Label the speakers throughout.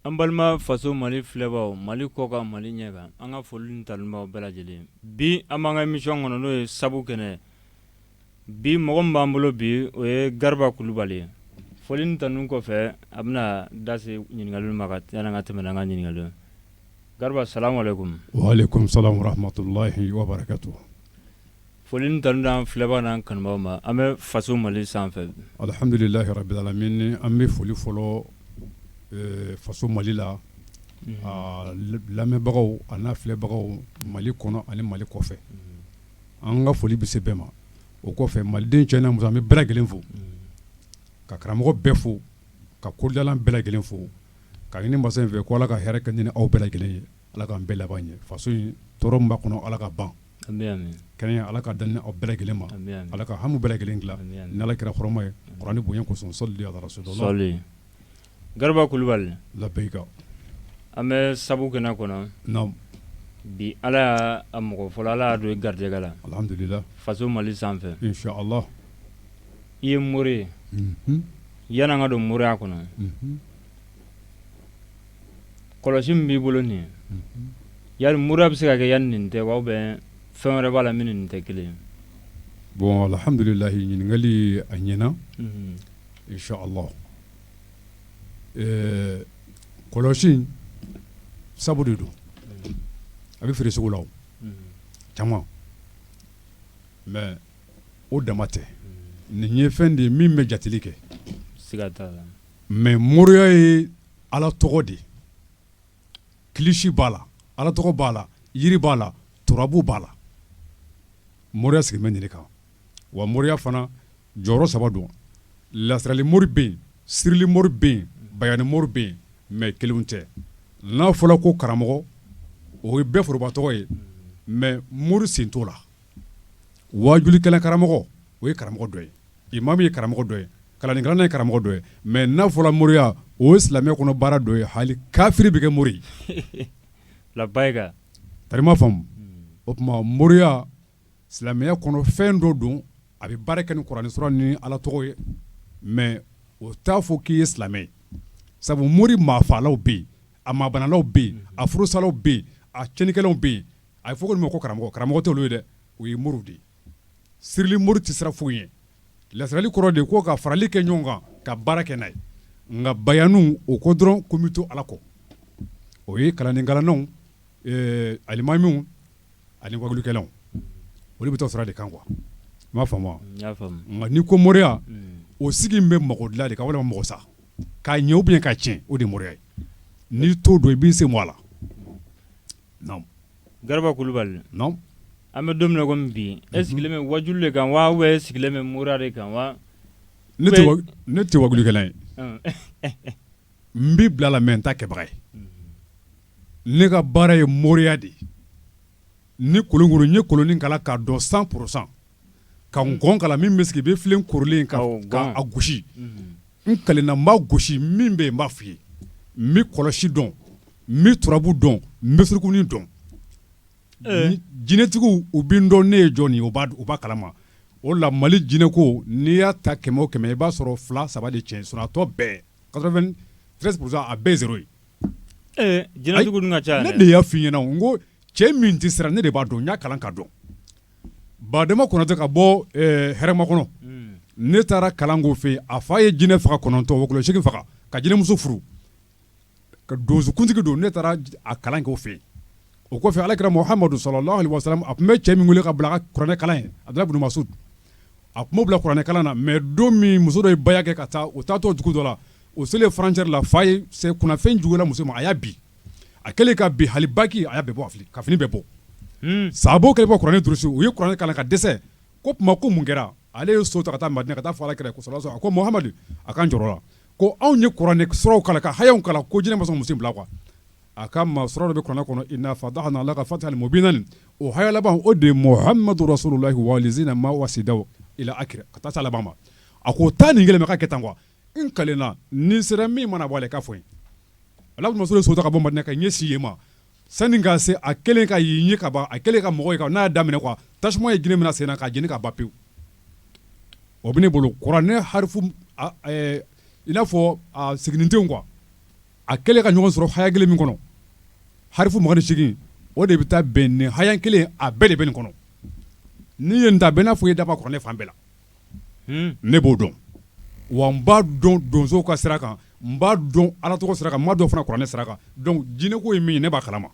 Speaker 1: An balima faso mali filɛbaw mali kɔkan mali ɲɛ kan an ka foli ni tanu b'aw bɛɛ lajɛlen bi an b'an ka emisiyɔn kɔnɔ n'o ye sabu kɛnɛ bi mɔgɔ min b'an bolo bi o ye gariba kulubali foli ni tanu kɔfɛ a bɛna da se ɲininkaliw ma yan'an ka tɛmɛ n'an ka ɲininkaliw gariba
Speaker 2: asalamu aleyikum
Speaker 1: Foli ni tanu d'an filɛbaw n'an kanubaw ma an bɛ faso mali sanfɛ alihamdulilahi
Speaker 2: rabil alamin an bɛ foli fɔlɔ faso mali la lamɛnbagaw an'a filɛbagaw mali kɔnɔ ani mali kɔfɛ an ka foli bɛ se bɛɛ ma o kɔfɛ maliden cɛ n'a muso an bɛ bɛɛ lajɛlen fo ka karamɔgɔ bɛɛ fo ka kodɔnna bɛɛ lajɛlen fo k'a ɲini masa in fɛ k' ala ka hɛrɛ kɛ an ni aw bɛɛ lajɛlen ye Ala k'an bɛɛ laban ɲɛ faso in tɔɔrɔ min b'a kɔnɔ Ala k'a ban ami ami kɛnɛya Ala k'a d'an ni aw bɛɛ lajɛlen ma ami ami Ala ka hami bɛɛ lajɛlen dilan ami ami n'Ala kira hɔrɔma ye kurani bonya kosɔn sɔli Ala rasulilahi Gariba
Speaker 1: kulubali labɛyika
Speaker 2: an
Speaker 1: bɛ sabu kɛnɛ kɔnɔ
Speaker 2: naamu
Speaker 1: bi Ala y'a a mɔgɔ fɔlɔ Ala y'a don i garijɛgɛ la alhamdulila
Speaker 2: faso Mali
Speaker 1: sanfɛ inchala i ye mori ye unhun yan'an ka don moriya kɔnɔ unhun kɔlɔsi min b'i bolo nin ye yali moriya bɛ se ka kɛ yan nin tɛ wa a bɛ fɛn wɛrɛ b'a la min ni nin tɛ kelen ye bon
Speaker 2: alhamdulila ɲininkakali a ɲɛna inchala kɔlɔsi sabu de don a bɛ feere sugu la caman mɛ o dama tɛ nin ye fɛn de ye min bɛ jateli kɛ
Speaker 1: siga t'a la mɛ moriya
Speaker 2: ye Ala tɔgɔ de kilisi b'a la ala tɔgɔ b'a la yiri b'a la turabu b'a la moriya sigi bɛ nin de kan wa moriya fana jɔyɔrɔ saba don lasirali mori bɛ yen sirili mori bɛ yen bayani mori bɛ yen mɛ kelenw tɛ n'a fɔra ko karamɔgɔ o ye bɛɛ foroba tɔgɔ ye mɛ mori sen t'o la wajulikɛla karamɔgɔ o ye karamɔgɔ dɔ ye imamu ye karamɔgɔ dɔ ye kalannikɛla ye karamɔgɔ dɔ ye mɛ n'a fɔra moriya o ye silamɛya kɔnɔ baara dɔ ye hali kafiri bɛ kɛ mori kama faamu o tuma moriya silamɛya kɔnɔ fɛn dɔ don a bɛ baara kɛ ni kurani sura ni ala tɔgɔ ye mɛ o t'a fɔ k'i ye silamɛ ye sabu mori maafaalaw bɛ yen a maabanalaw bɛ yen a furusalaw bɛ yen a cɛnnikɛlaw bɛ yen a bɛ fɔ olu ma ko karamɔgɔ karamɔgɔ tɛ olu ye dɛ o ye mori de ye sirili mori tɛ sira foyi ye lasirali kɔrɔ de ko ka farali kɛ ɲɔgɔn kan ka baara kɛ n'a ye nka bayani o ko dɔrɔn ko n bɛ to ala kɔ o ye kalanni kalannaw alimamiw ani wajulikɛlaw olu bɛ taa sira de kan quoi i m'a faamu nka n'i ko moriya o sigi bɛ mɔgɔ dilan de kan walima mɔgɔ sa k'a ɲɛ ou bien k'a tiɲɛ o de moriya ye n'i t'o dɔn i b'i sen bɔ a la
Speaker 1: Garaba Kulubali
Speaker 2: an bɛ don
Speaker 1: min na kɔmi bi e sigilen bɛ wajuli de kan wa e sigilen bɛ moriya de kan wa
Speaker 2: ne tɛ wajulikɛla ye n b'i bila la mɛ n t'a kɛbaga ye ne ka baara ye moriya de ye ni kolon n ye kolonin kalan k'a dɔn cent pour cent ka nkɔn kalan min bɛ sigi i bɛ filen korilen ka a gosi n kalenna n b'a gosi min bɛ yen n b'a fɔ i ye n bɛ kɔlɔsi dɔn n bɛ turabu dɔn n bɛ surukunin dɔn jinɛtigiw u bɛ n dɔn ne ye jɔn ye u b'a kalama o la Mali jinɛko n'i y'a ta kɛmɛ o kɛmɛ i b'a sɔrɔ fila saba de tiɲɛ sinon a tɔ bɛɛ quatre-vingt-treize pour cent a bɛɛ ye zéro ye
Speaker 1: jinɛtigiw dun ka ca ne de y'a fɔ i ɲɛna
Speaker 2: ko cɛ min tɛ siran ne de b'a dɔn n y'a kalan ka dɔn Badema Konate ka bɔ Hɛrɛmakɔnɔ ne taara kalan k'o fɛ yen a fa ye jinɛ faga kɔnɔntɔn wɔkulɔ seegin faga ka jinɛmuso furu ka donsokuntigi don ne taara a kalan k'o fɛ yen o kɔfɛ Ala kira Muhamadu sallallahu alaihi wasallam a tun bɛ cɛ min weele ka bila a ka kuranɛ kalan ye Abdulahi ibn Masud a tun b'o bila kuranɛ kalan na mɛ don min muso dɔ ye baya kɛ ka taa o taatɔ dugu dɔ la o selen frontière la fa ye kunnafɛn jugula muso ma a y'a bin a kɛlen ka bin hali baki a bɛ bɔ ka fini bɛ bɔ sa kɛlen bɔ kuranɛ duurusu u ye kuranɛ kalan ka dɛsɛ ko tuma ko mun kɛra ale ye so ta ka taa ma ka taa fara kɛlɛ a ko mahamadu a ka jɔ ko anw ye kuranɛ sɔrɔw kala ka ha kala ko j masa muso bila kuwa a ka maa sɔrɔ de bɛ kɔnɔ kɔnɔ i fa la ka fa mo bɛ naani o ha laban o de ye mɔ hamadudu sɔrɔ la waliina ma wada ka taa laban ma a ko taa nin kelen ka kɛ tan kuwa n kalenna nin sera min mana bɔ ale ka fɔ n ye Abdulahi ibn Masud so ta ka bɔ Madina ka ɲɛsin yen ma sani ka se a kɛlen ka y'i ɲɛ ka ban a kɛlen ka mɔgɔ ye ka n'a y'a daminɛ quoi tasuma ye jinɛ minɛ a sen na k'a jeni ka ban pewu o bɛ ne bolo kuranɛ harifu a bɛɛ i n'a fɔ a siginidenw quoi a kɛlen ka ɲɔgɔn sɔrɔ haya kelen min kɔnɔ harifu mugan ni seegin o de bɛ taa bɛn nin haya kelen a bɛɛ de bɛ nin kɔnɔ n'i ye nin ta a bɛ i n'a fɔ i ye dɔ bɔ kuranɛ fan bɛɛ la ne b'o dɔn wa n b'a dɔn donsow ka sira kan n b'a dɔn ala tɔgɔ sira kan n b'a dɔn fana kuranɛ sira kan donc jinɛko ye min ye ne b'a kalama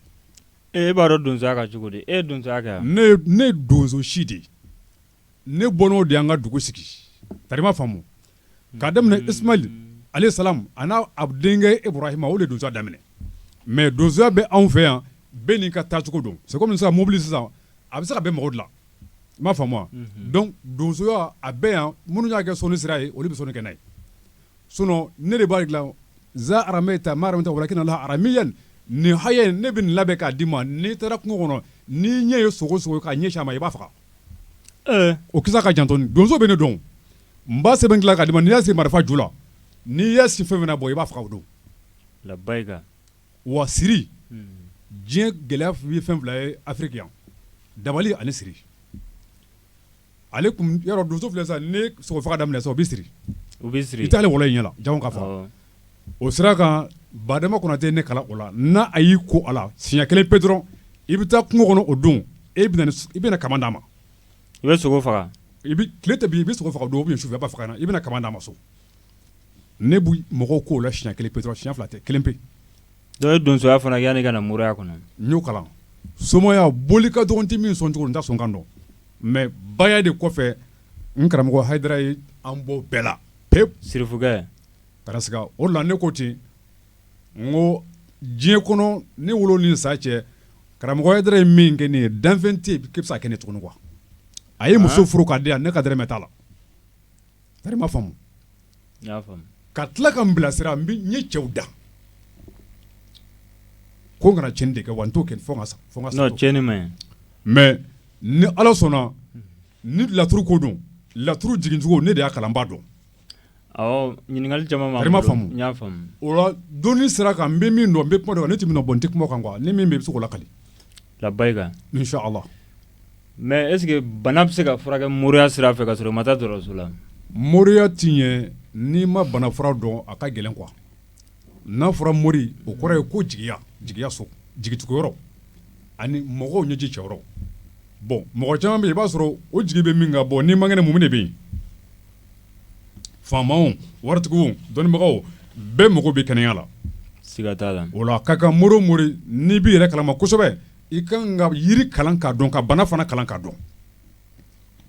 Speaker 2: e b'a dɔn
Speaker 1: donsoya kan cogo di e ye donsoya kɛ ne ye donso
Speaker 2: si de ye ne bɔn n'o de y'an ka dugu sigi i m'a faamu k'a daminɛ Ismail alayhi salam a n'a denkɛ Ibrahima o de donsoya daminɛ mɛ donsoya bɛ anw fɛ yan bɛɛ n'i ka taacogo don c'est comme sisan mobili sisan a bɛ se ka bɛ mɔgɔw la i m'a faamu wa unhun donc donsoya a bɛ yan minnu y'a kɛ sɔnni sira ye olu bɛ sɔnni kɛ n'a ye sinon ne de b'a dilan za arameyita ma arameyita walakina Laahu aramiyan nin haya in ne bɛ nin labɛn k'a d'i ma n'i taara kungo kɔnɔ n'i ɲɛ ye sogo o sogo ye k'a ɲɛsin a ma i b'a faga ee o kisa ka jan dɔɔni donso bɛ ne dɔn o n b'a sɛbɛn dilan k'a d'i ma n'i y'a siri marifa ju la n'i y'a si fɛn o fɛn na bon i b'a faga o don labayika wa siri diɲɛ gɛlɛya ye fɛn fila ye Afiriki yan dabali ani siri ale yɔrɔ donso filɛ sa ni sogo faga daminɛ o bɛ siri u bɛ siri i t'ali wɔlɔnin ɲɛ na janko k'a faga o sira kan Badama Konate ne kala o la n' a y'i ko a la siɲɛ kelen pe dɔrɔn i bɛ taa kungo kɔnɔ o don e i bɛna ka d'a ma i bɛ sogo
Speaker 1: faga tile tɛ bin
Speaker 2: i bɛ sogo faga o don ou bien sufɛ i b'a faga i bɛna ka d'a ma so Ne bɛ mɔgɔw ko o la siɲɛ kelen pe dɔrɔn siɲɛ fila tɛ kelen pe don n
Speaker 1: ye donsoya fana kɛ yanni ka na moriya kɔnɔ n y'o
Speaker 2: kalan somaya boli ka dɔgɔ n tɛ min sɔn cogo n t'a sɔnkan dɔn mais baya de kɔfɛ n karamɔgɔ Hayidara ye an bɔ bɛɛ la pewu sirifukɛ o la ne ko ten n ko diɲɛ kɔnɔ ne wolo ni sa cɛ karamɔgɔ Hayidara ye min kɛ ne ye danfɛn tɛ yen k'i bɛ se ka kɛ ne tuguni quoi a ye muso furu k'a di yan ne ka dɔrɔmɛ t'a la
Speaker 1: ka tila ka n
Speaker 2: bilasira n ye cɛw da ko n kana tiɲɛni de kɛ wa n t'o kɛ
Speaker 1: mais
Speaker 2: ni ala sɔnna ni laturu ko don laturu jigincogo ne de y'a kalan n b'a
Speaker 1: dɔn ɲininkali
Speaker 2: dɔnni sira kan n bɛ min dɔn n bɛ kuma ne tɛ min dɔn bon n tɛ kuma o kan quoi ni min bɛ i bɛ se k'o lakali
Speaker 1: Mais est-ce que bana bɛ se ka furakɛ moriya sira fɛ ka sɔrɔ i ma taa dɔgɔtɔrɔso la moriya
Speaker 2: ti ɲɛ n'i ma bana fura dɔn a ka gɛlɛn quoi n'a fɔra mori o kɔrɔ ye ko jigiya jigiya so jigituguyɔrɔ ani mɔgɔw ɲɛji cɛyɔrɔ bon mɔgɔ caman bɛ yen i b'a sɔrɔ o jigi bɛ min kan bon n'i man kɛnɛ mun de bɛ yen faamaw waritigiw dɔnnibagaw bɛɛ mago bɛ kɛnɛya la siga t'a la
Speaker 1: o la a ka kan mori o mori
Speaker 2: n'i b'i yɛrɛ kalama kosɛbɛ i ka kan ka yiri kalan k'a dɔn ka bana fana kalan k'a dɔn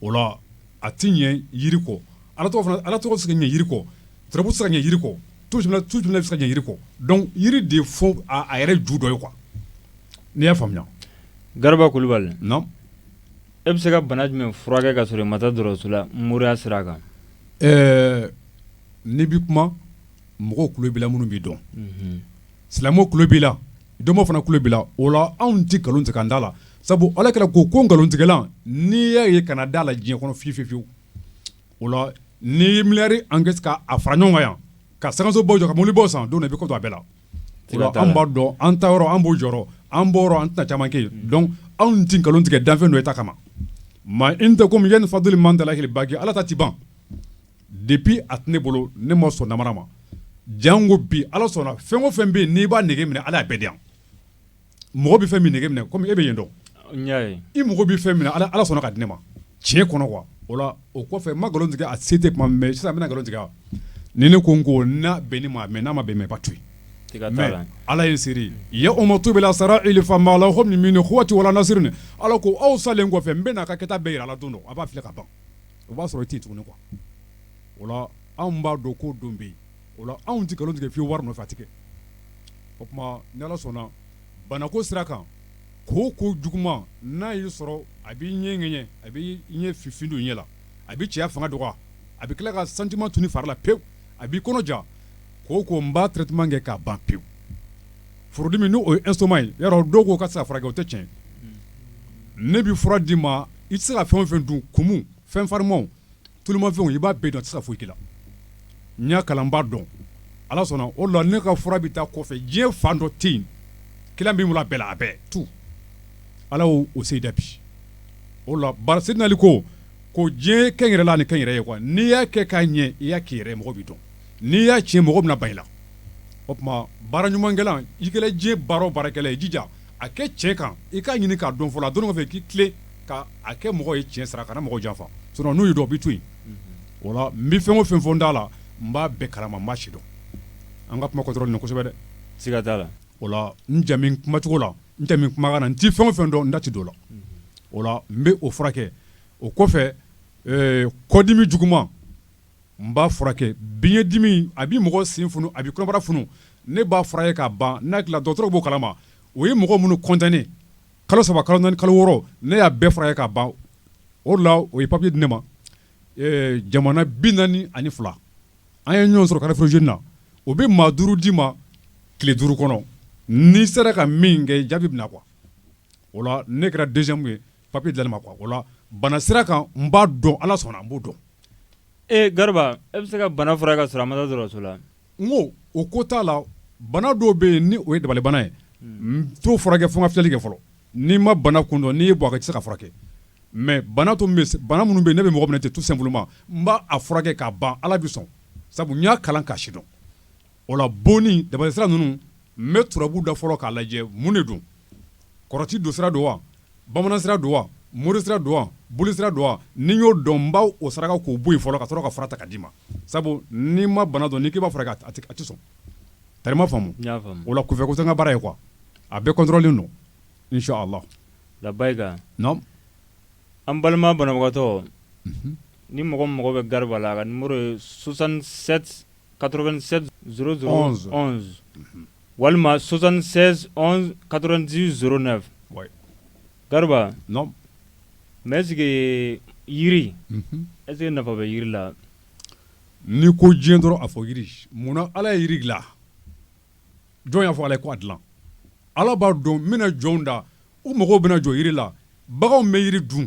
Speaker 2: o la a tɛ ɲɛ yiri kɔ ala ala tɔgɔ se ka ɲɛ yiri kɔ turabu se ka ɲɛ yiri kɔ tu tu bɛ se ka ɲɛ yiri kɔ donc yiri de fɔ a yɛrɛ ju dɔ ye quoi n'i y'a faamuya gariba kulubali e bɛ
Speaker 1: se ka bana jumɛn furakɛ ka sɔrɔ i ma taa dɔgɔtɔrɔso la moriya sira kan ɛɛ
Speaker 2: n'i bɛ kuma mɔgɔw tulo b'i la minnu b'i dɔn silamɛw tulo b'i la dɔnbaaw fana tulo b'i la o la anw tɛ nkalon tigɛ an da la sabu ala kira ko ko nkalontigɛla n'i y'a ye kana da a la diɲɛ kɔnɔ fiyewu o la n'i ye miliyari kɛ k' a fara ɲɔgɔn kan yan ka sankansobaw jɔ ka mobilibaw san don na i bɛ kɔ don a bɛɛ la an b'a dɔn an taayɔrɔ an b'o jɔ an bɔ an tɛna caman kɛ yen donc anw tɛ nkalon tigɛ danfɛn dɔ ta kama ma indakumu yanfadu ma indalahi baki ala ta tɛ ban Depuis a tɛ ne bolo ne ma sɔn namara ma janko bi ala sɔnna fɛn o fɛn bɛ yen n'i b'a nege minɛ ala y'a bɛɛ di mɔgɔ bɛ fɛn min nege minɛ kɔmi e bɛ yen dɔn i mɔgɔ bɛ fɛn minɛ ala ala sɔnna k'a di ne ma tiɲɛ kɔnɔ kuwa o la o kɔfɛ n ma nkalon tigɛ a se tɛ tuma mɛ sisan n bɛna nkalon tigɛ ni ne ko n ko n bɛ ne ma mɛ n'a ma bɛn mɛ b'a to yen ala ye seere ye yawuma tubila sarayiri fama lahu min kuwati wala nasiri ala ko aw salen kɔfɛ n bɛna aw ka kɛta bɛɛ jira aw la don a b'a filɛ ka ban o b'a sɔrɔ i tɛ yen tuguni kuwa o la anw b'a dɔn ko don bɛ yen o la anw tɛ nkalon tigɛ wari nɔfɛ a tɛ kɛ o tuma ni ala sɔnna banako sira kan kooko juguman n'a y'i sɔrɔ a b'i ɲɛ ŋɛɲɛ a b'i ɲɛ fifin ɲɛ la a b'i cɛya fanga dɔgɔya a bɛ tila ka sentiment tunun i fari la pewu a b'i kɔnɔ ja kooko n b'a traitement kɛ k'a ban pewu furudimi n' o ye estomac ye dɔw ko k'a tɛ se ka furakɛ o tɛ tiɲɛ ne bɛ fura d'i ma i tɛ se ka fɛn o fɛn dun kumu fɛn farimanw tulumafɛnw i b'a bɛɛ dun a tɛ se ka foyi k'i la n y'a kalan n b'a dɔn ala sɔnna o la ne ka fura bɛ taa kɔfɛ diɲɛ fan dɔ tɛ yen client bɛ n bolo a bɛɛ la a bɛɛ tout ala y'o se da bi o la ba sidina ali ko ko diɲɛ kɛ n yɛrɛ la ni kɛ n yɛrɛ ye n'i y'a kɛ k'a ɲɛ i y'a k'i yɛrɛ ye mɔgɔ b'i dɔn n'i y'a tiɲɛ mɔgɔ bɛna ban i la o tuma baara ɲumankɛla i kɛra diɲɛ baara o baarakɛla i jija a kɛ tiɲɛ kan i k'a ɲini k'a dɔn fɔlɔ a dɔnni kɔfɛ k'i tilen ka a kɛ mɔgɔ ye tiɲɛ sira kana mɔgɔ janfa sinon n'u y'i dɔn u b'i to yen o la n bɛ fɛn o fɛn fɔ n da la n b'a bɛɛ kalama n b'a sidɔn an ka kuma kɔntɔrɔlilen kosɛbɛ dɛ siga t'a
Speaker 1: la o la n
Speaker 2: jamu kumacogo la n jamu kumakan na n tɛ fɛn o fɛn dɔn n da tɛ don o la o la n bɛ o furakɛ o kɔfɛ kɔdimi juguman N b'a furakɛ biɲɛdimi a bɛ mɔgɔ sen funu a bɛ kɔnɔbara funu ne b'a furakɛ k'a ban n'a dilan dɔgɔtɔrɔw b'o kalama o ye mɔgɔ minnu condamner kalo saba kalo naani kalo wɔɔrɔ ne y'a bɛɛ furakɛ k'a ban o la o ye papier di ne ma ɛɛ jamana bi naani ani fila an ye ɲɔgɔn sɔrɔ carrefour jeunes na o bɛ maa duuru d'i ma tile duuru kɔnɔ n'i sera ka min kɛ jaabi bɛna na kuwa o la ne kɛra deuxième ye papier dila ne ma bana sira kan n b'a dɔn ala sɔnna n b'o dɔn e
Speaker 1: gariba e bɛ se ka bana furakɛ ka sɔrɔ a ma taa dɔgɔtɔrɔso la n ko o
Speaker 2: ko t'a la bana dɔw bɛ yen ni o ye dabalibana ye n t'o furakɛ fo n ka filɛli kɛ fɔlɔ n'i ma bana kun dɔn n'i ye bɔ a kan i tɛ se ka furakɛ mɛ bana bana minnu bɛ yen n'a bɛ mɔgɔ minɛ ten tout simplement n b'a furakɛ k'a ban ala bɛ sɔn sabu n y'a kalan k'a sidɔn o la bonni dabali sira ninnu N bɛ turabu da fɔlɔ k'a lajɛ mun de don kɔrɔti don sira don wa bamanan sira don wa mori sira don wa boli sira don wa ni n y'o dɔn n b'o saraka k'o bɔ yen fɔlɔ ka sɔrɔ ka fura ta ka d'i ma sabu n'i ma bana dɔn n'i k'i b'a furakɛ a tɛ sɔn tari ma faamu o la kunfɛko tɛ n ka baara ye quoi a bɛɛ kɔntɔrɔlilen don inshallah
Speaker 1: labayika an balima banabagatɔ ni mɔgɔ mago bɛ gariba la a ka nimɔrɔ ye soixante 87 00 11 walima 76 11 90 09 gariba mais est-ce que yiri est-ce que nafa bɛ yiri la
Speaker 2: n'i ko diɲɛ dɔrɔn a fɔ yiri munna ala ye yiri dilan jɔn y'a fɔ ala ye ko a dilan ala b'a dɔn n bɛna jɔnw da u mago bɛna jɔ yiri la baganw bɛ yiri dun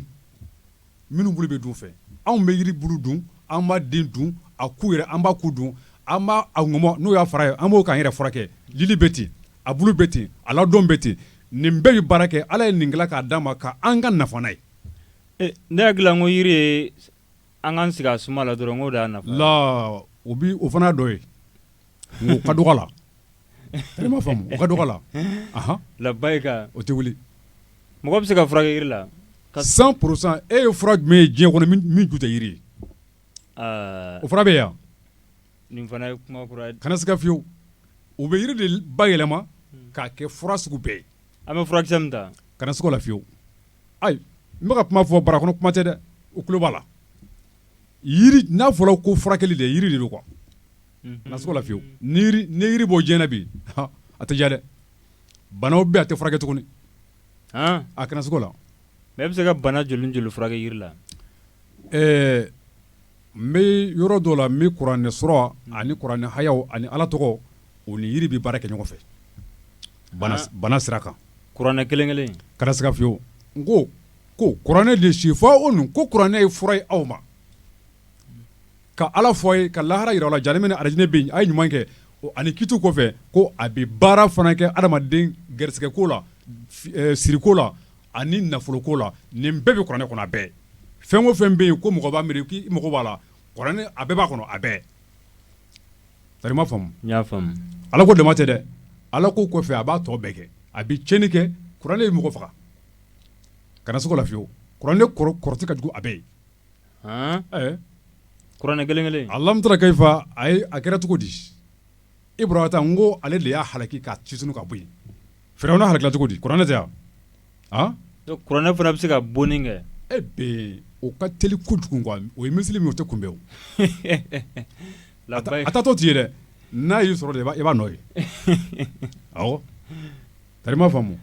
Speaker 2: Minnu bulu bɛ dun fɛ anw bɛ yiri bulu dun an b'a den dun a ku yɛrɛ an b'a ku dun an b'a ŋɔmɔ n'o y'a fara ye an b'o k'an yɛrɛ furakɛ lili bɛ ten a bulu bɛ ten a ladon bɛ ten nin bɛɛ bɛ baara kɛ ala ye nin dilan k'a d'an ma k'an ka nafa n'a ye ne
Speaker 1: hakili la n ko yiri an k'an sigi a suma la dɔrɔn
Speaker 2: o fana dɔ ye O ka dɔgɔ la i m'a faamu o ka dɔgɔ la
Speaker 1: labayika o tɛ
Speaker 2: wuli mɔgɔ
Speaker 1: bɛ se ka furakɛ yiri la cent pour
Speaker 2: cent e ye fura jumɛn ye diɲɛ kɔnɔ min ju tɛ yiri ye o fura bɛ yan nin
Speaker 1: fana ye kuma ye kana siga
Speaker 2: fiyewu u bɛ yiri de bayɛlɛma k'a kɛ fura sugu bɛɛ ye an bɛ furakisɛ min ta
Speaker 1: kana siga o la fiyewu
Speaker 2: ayi n bɛ ka kuma fɔ bara kɔnɔ kuma tɛ dɛ u tulo b'a la n'a fɔra ko furakɛli de yiri de don quoi kana siga o la fiyewu ni yiri bɔ diɲɛ na bi a tɛ diya dɛ banaw bɛ a tɛ furakɛ tuguni a kana siga o la mais e bɛ se ka bana
Speaker 1: joli joli furakɛ yiri la
Speaker 2: ɛɛ an bɛ yɔrɔ dɔ la bi kuranɛ sura ani kuranɛ hayaw ani ala tɔgɔ u ni yiri bɛ baara kɛ ɲɔgɔn fɛ bana sira kan kuranɛ kelen kelen
Speaker 1: kana siga
Speaker 2: fiyewu n ko ko kuranɛ de sifawunu ko kuranɛ ye fura ye aw ma ka ala fɔ a ye ka lahara yira aw la jahanama ni arijinɛ bɛ yen a ye ɲuman kɛ ani kiti kɔfɛ ko a bɛ baara fana kɛ adamaden garisigɛko la siriko la ani nafoloko la nin bɛɛ bɛ kuranɛ kɔnɔ a bɛɛ fɛn o fɛn bɛ yen ko mɔgɔ b'a miiri k'i mago b'a la a bɛɛ b'a kɔnɔ a bɛɛ faamu
Speaker 1: ala ko dama tɛ dɛ
Speaker 2: ala ko kɔfɛ a b'a tɔ bɛɛ kɛ a bɛ tiɲɛni kɛ kuranɛ ye mɔgɔ faga kana siga o la fiyewu kuranɛ kɔrɔti ka jugu a bɛɛ ye
Speaker 1: kuranɛ kelen kelen alamu tara
Speaker 2: kayifa ye a kɛra cogo di abrahata n ko ale de y'a halaki k'a situnu ka bɔ yen firawuna halakila cogo di kuranɛ tɛ wa kuranɛ
Speaker 1: fana bɛ se ka bonni kɛ
Speaker 2: o ka teli kojugu o ye misili min o tɛ
Speaker 1: kunbɛn a taatɔ t'i ye dɛ
Speaker 2: n'a y'i sɔrɔ i b'a nɔ ye Tari i m'a faamu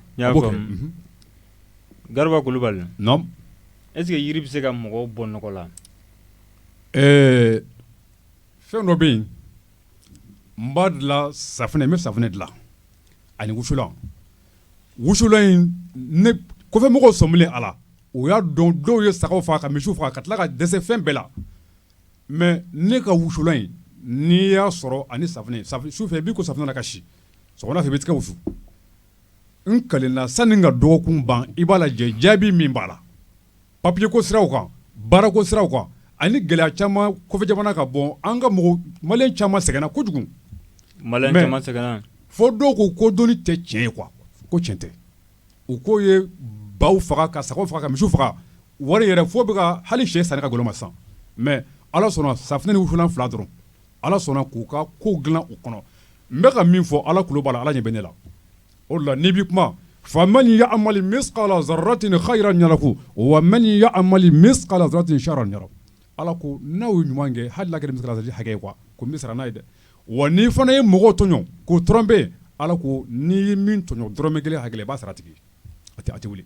Speaker 1: gariba
Speaker 2: kulubali est-ce que
Speaker 1: yiri bɛ se ka mɔgɔw bɔ nɔgɔ la ɛɛ
Speaker 2: fɛn dɔ bɛ yen n b'a dilan safunɛ n bɛ safunɛ dilan ani wusulan wusulan in ne kɔfɛmɔgɔ sɔmilen a la o y'a dɔn dɔw ye saga faa ka misi faa ka tila ka dɛsɛ fɛn bɛɛ la Mɛ ne ka wusulan in n'i y'a sɔrɔ ani safunɛ sufɛ i b'i ko safunɛ na ka si sɔgɔma fɛ i bɛ tila ka wusu n kalenna sanni ka dɔgɔkun ban i b'a lajɛ jaabi min b'a la papiye ko siraw kan baara ko siraw kan ani gɛlɛya caman kɔfɛ jamana ka bon an ka maliyɛn caman sɛgɛnna kojugu
Speaker 1: sɛgɛnna fo dɔw ko ko
Speaker 2: dɔnni tɛ tiɲɛ ye kuwa ko tiɲɛ tɛ u k'o ye baw faga ka sago faga ka misi faga wari yɛrɛ fo bɛ hali sɛ san ka goloma san mɛ ala sɔnna saf f fila dɔrɔn ala sɔnna k'u ka ko dilan u kɔnɔ n bɛka ka min fɔ ala kulubali b'a ala ɲɛ bɛ ne la o la ni bɛ kuma fa man ya sati ni ha jiraku wa man ya sati ala ko n'aw ye ɲuman kɛ hali kelen hakɛ kuwa ko n bɛ siran n'a ye dɛ wa n'i fana ye mɔgɔ tɔɲɔ k'o tromper ala ko n'i ye min tɔɲɔ dɔrɔmɛ kelen hakɛ la i b'a sara a tigi a tɛ wuli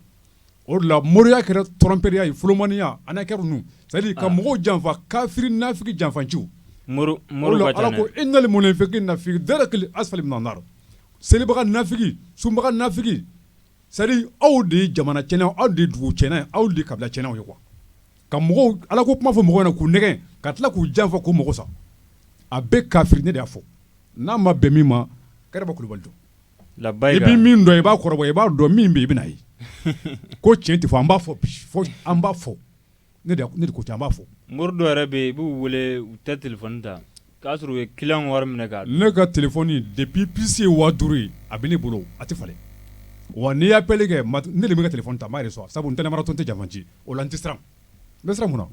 Speaker 2: o de la moriya kɛra tromperie ye fmaniya ani kɛra c'est à dire ka mɔgɔw janfa kafiri nafiki janfanci
Speaker 1: mori ala
Speaker 2: ko innal munafiqina fi darakil asfali minan nari selibaga nafiki sunbaga nafiki c'est à dire aw de ye jamana tiɲɛnaw aw de dugu tiɲɛna aw de kabila tiɲɛnaw ye kuwa ka mɔgɔw ala ko kuma fɔ mɔgɔw ɲɛna k'u nɛgɛn ka tila k'u janfa k'u mago sa a bɛɛ kafiri ne de y'a fɔ n'a ma bɛn min ma gariba kulubali don i bɛ min dɔn i b'a kɔrɔbɔ i b'a dɔn min bɛ i bɛna a ye ko cɛn tɛ fɔ an b'a fɔ an b'a fɔ ne ko an b'a fɔ mori dɔw yɛrɛ bɛ yen i
Speaker 1: b'u wele u tɛ telephone ta K'a sɔrɔ u ye client ka wari minɛ k'a dun, ne ka
Speaker 2: telephone depuis puce ye 5000 ye a bɛ ne bolo a tɛ falen wa n'i ye appel kɛ ne de bɛ n ka telephone ta n b'a reçois sabu n tɛ namaratɔ n tɛ janfanci o la n tɛ siran n bɛ siran mun na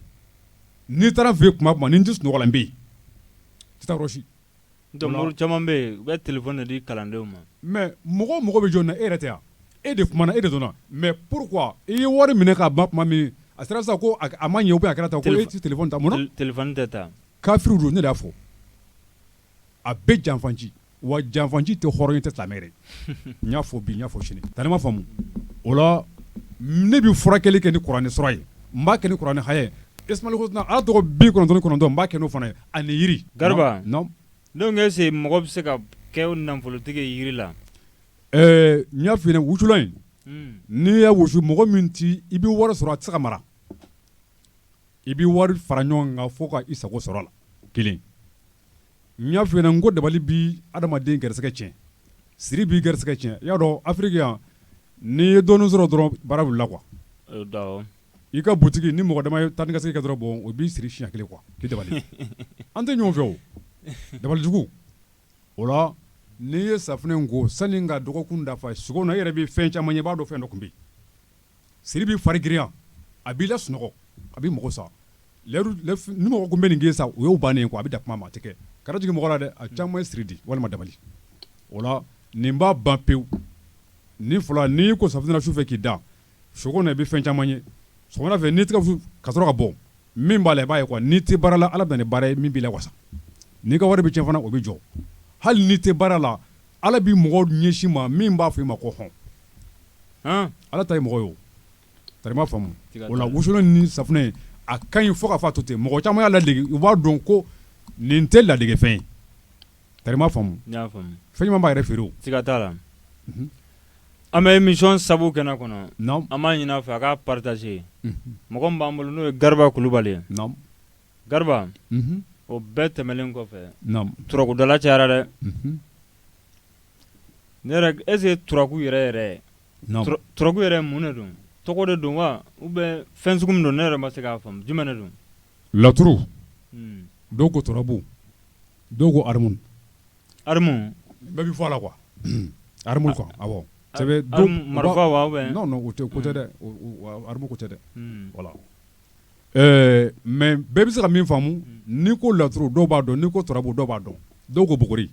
Speaker 2: n'i taara n fɛ yen tuma o tuma ni n tɛ sunɔgɔ la n bɛ yen n tɛ taa yɔrɔ si donc
Speaker 1: mori caman bɛ yen u bɛ telephone de di kalandenw ma mais mɔgɔ o
Speaker 2: mɔgɔ bɛ jɔni na e yɛrɛ tɛ wa e de kumana e de dɔnna mais pourquoi i ye wari minɛ k'a ban tuma min a sera sisan ko a ma ɲɛ ou bien a kɛra tan ko e tɛ telephone ta mun na telephone tɛ ta
Speaker 1: kafiriw don ne de y'a
Speaker 2: fɔ a bɛɛ janfanci wa janfanci tɛ hɔrɔn tɛ silamɛ yɛrɛ dɛ n y'a fɔ bi n y'a fɔ sini tari ma faamu o la ne bɛ furakɛli kɛ ni kuranɛ sura ye n b'a kɛ ni kuranɛ haya ye asmaul husna ala tɔgɔ bi kɔnɔntɔn kɔnɔntɔn n b'a kɛ n'o fana ye ani yiri
Speaker 1: gariba non
Speaker 2: est ce que
Speaker 1: mɔgɔ bɛ se ka kɛ nafolotigi ye yiri
Speaker 2: la n y'a f'i ɲɛna wusulan in n'i y'a wusu mɔgɔ min tɛ i bɛ wari sɔrɔ a tɛ se ka mara I bɛ wari fara ɲɔgɔn kan fo ka i sago sɔrɔ a la kelen n y'a fɔ n ko dabali bɛ adamaden garisɛgɛ cɛn siri b'i garisɛgɛ cɛn i y'a dɔn afiriki yan n'i ye dɔɔnin sɔrɔ dɔrɔn baara wulila quoi i ka butigi ni mɔgɔ dama ye taa ni ka segin kɛ dɔrɔn bon o b'i siri siɲɛ kelen quoi k'i dabali an tɛ ɲɔgɔn fɛ o dabalijugu o la n'i ye safunɛ ko sani ka dɔgɔkun dafa sugo na i yɛrɛ bɛ fɛn caman ye i b'a dɔn fɛn dɔ tun bɛ Siri b'i fari girinya a b'i lasunɔgɔ a b'i mago sa ni mɔgɔ ko n bɛ nin k'i sa o y'o bannen ye a bɛ da kuma ma a tɛ kɛ ka na jigin mɔgɔ la dɛ a caman ye siri di walima dabali o la nin b'a ban pewu ni fɔlɔ n'i ko safunɛ na su fɛ k'i da sugo na i bɛ fɛn caman ye sɔgɔmada fɛ n'i ko ka bɔ min b'a la i b'a ye n'i tɛ baara la ala bɛ na ni baara ye min b'i lawasa n'i ka wari bɛ cɛn fana o bɛ jɔ hali n'i tɛ baara la ala bɛ mɔgɔ ɲɛsin i ma min b'a fɔ i ma ko hɔn ala ta mɔgɔ ye o tari ma faamu o la wusulan ni safunɛ a ka ɲi fo ka f'a to ten mɔgɔ caman y'a ladege u b'a dɔn ko nin tɛ ladegefɛn ye tari ma faamu fɛn ɲuman b'a yɛrɛ feere o siga t'a la
Speaker 1: an bɛ émission sabu kɛnɛ kɔnɔ an b'a ɲini a fɛ a k'a partager mɔgɔ min b'an bolo n'o ye gariba kulubali ye gariba o bɛɛ tɛmɛnen kɔfɛ turakudala cayara dɛ Ne yɛrɛ est ce que turaku yɛrɛ yɛrɛ ye non tura turaku yɛrɛ ye mun de don tɔgɔ de don wa ou bien fɛn sugu min don ne yɛrɛ ma se k'a faamu jumɛn de don laturu
Speaker 2: unhun dɔw ko turabu dɔw ko armu armu bɛɛ bi fɔ a la quoi armu quoi awɔ armu marifa
Speaker 1: wa ou bien non non o tɛ o ko tɛ dɛ
Speaker 2: o o armu ko tɛ dɛ unhun voilà Ɛɛ mais bɛɛ bɛ se ka min faamu n'i ko laturu dɔw b'a dɔn n'i ko turabu dɔw b'a dɔn dɔw ko buguri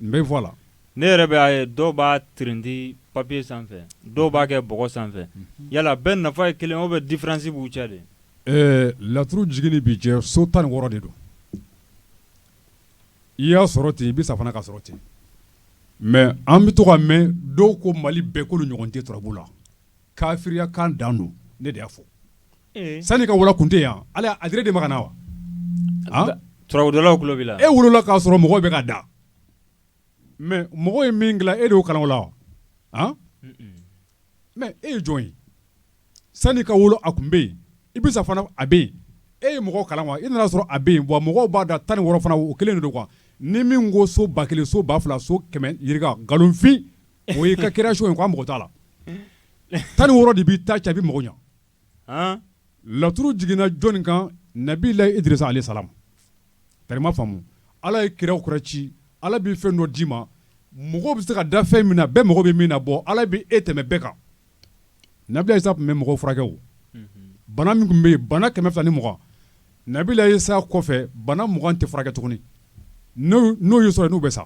Speaker 2: n bɛ fɔ a la ne yɛrɛ b'a ye
Speaker 1: dɔw b'a tirindi papiye sanfɛ dɔw b'a kɛ bɔgɔ sanfɛ yala bɛɛ nafa ye kelen ou bien difiransi b'u cɛ de ɛɛ laturu
Speaker 2: jigin bɛ jɛ so tan ni wɔɔrɔ de don i y'a sɔrɔ ten i bɛ sa fana k'a sɔrɔ ten mais an bɛ to k'a mɛn dɔw ko mali bɛɛ k'olu ɲɔgɔn tɛ turabu la Kafiriya kan dan don ne de y'a fɔ sani ka wolo tun tɛ yan ala a de ma kana
Speaker 1: wa tulo b'i la e wolola k'a sɔrɔ mɔgɔ
Speaker 2: bɛ ka da mais mɔgɔ ye min e de kala la wa mais e ye jɔn ye sani ka wolo a tun bɛ yen i bɛ sa fana a bɛ yen e ye mɔgɔ kala wa i nana sɔrɔ a bɛ yen wa mɔgɔ b'a da tan ni wɔɔrɔ fana o kelen de don quoi ni min ko so ba kelen so ba fila so kɛmɛ yirika nkalonfin O ye ka création ye quoi mɔgɔ t'a la tan ni wɔɔrɔ de b'i ta cɛ a bi mɔgɔ ɲɛ laturu jiginna jɔnni kan nabilahi Idirisa alayhi salam tari i m'a faamu ala ye kira kura ci ala bɛ fɛn dɔ d'i ma mɔgɔ bɛ se ka da fɛn min na bɛɛ mɔgɔ bɛ min na bɔ ala bɛ e tɛmɛ bɛɛ kan Nabila Isa tun bɛ mɔgɔw furakɛ o bana min tun bɛ yen bana kɛmɛ fila ni mugan nabila Isa kɔfɛ bana mugan tɛ furakɛ tuguni n'o y'u sɔrɔ n'u bɛ sa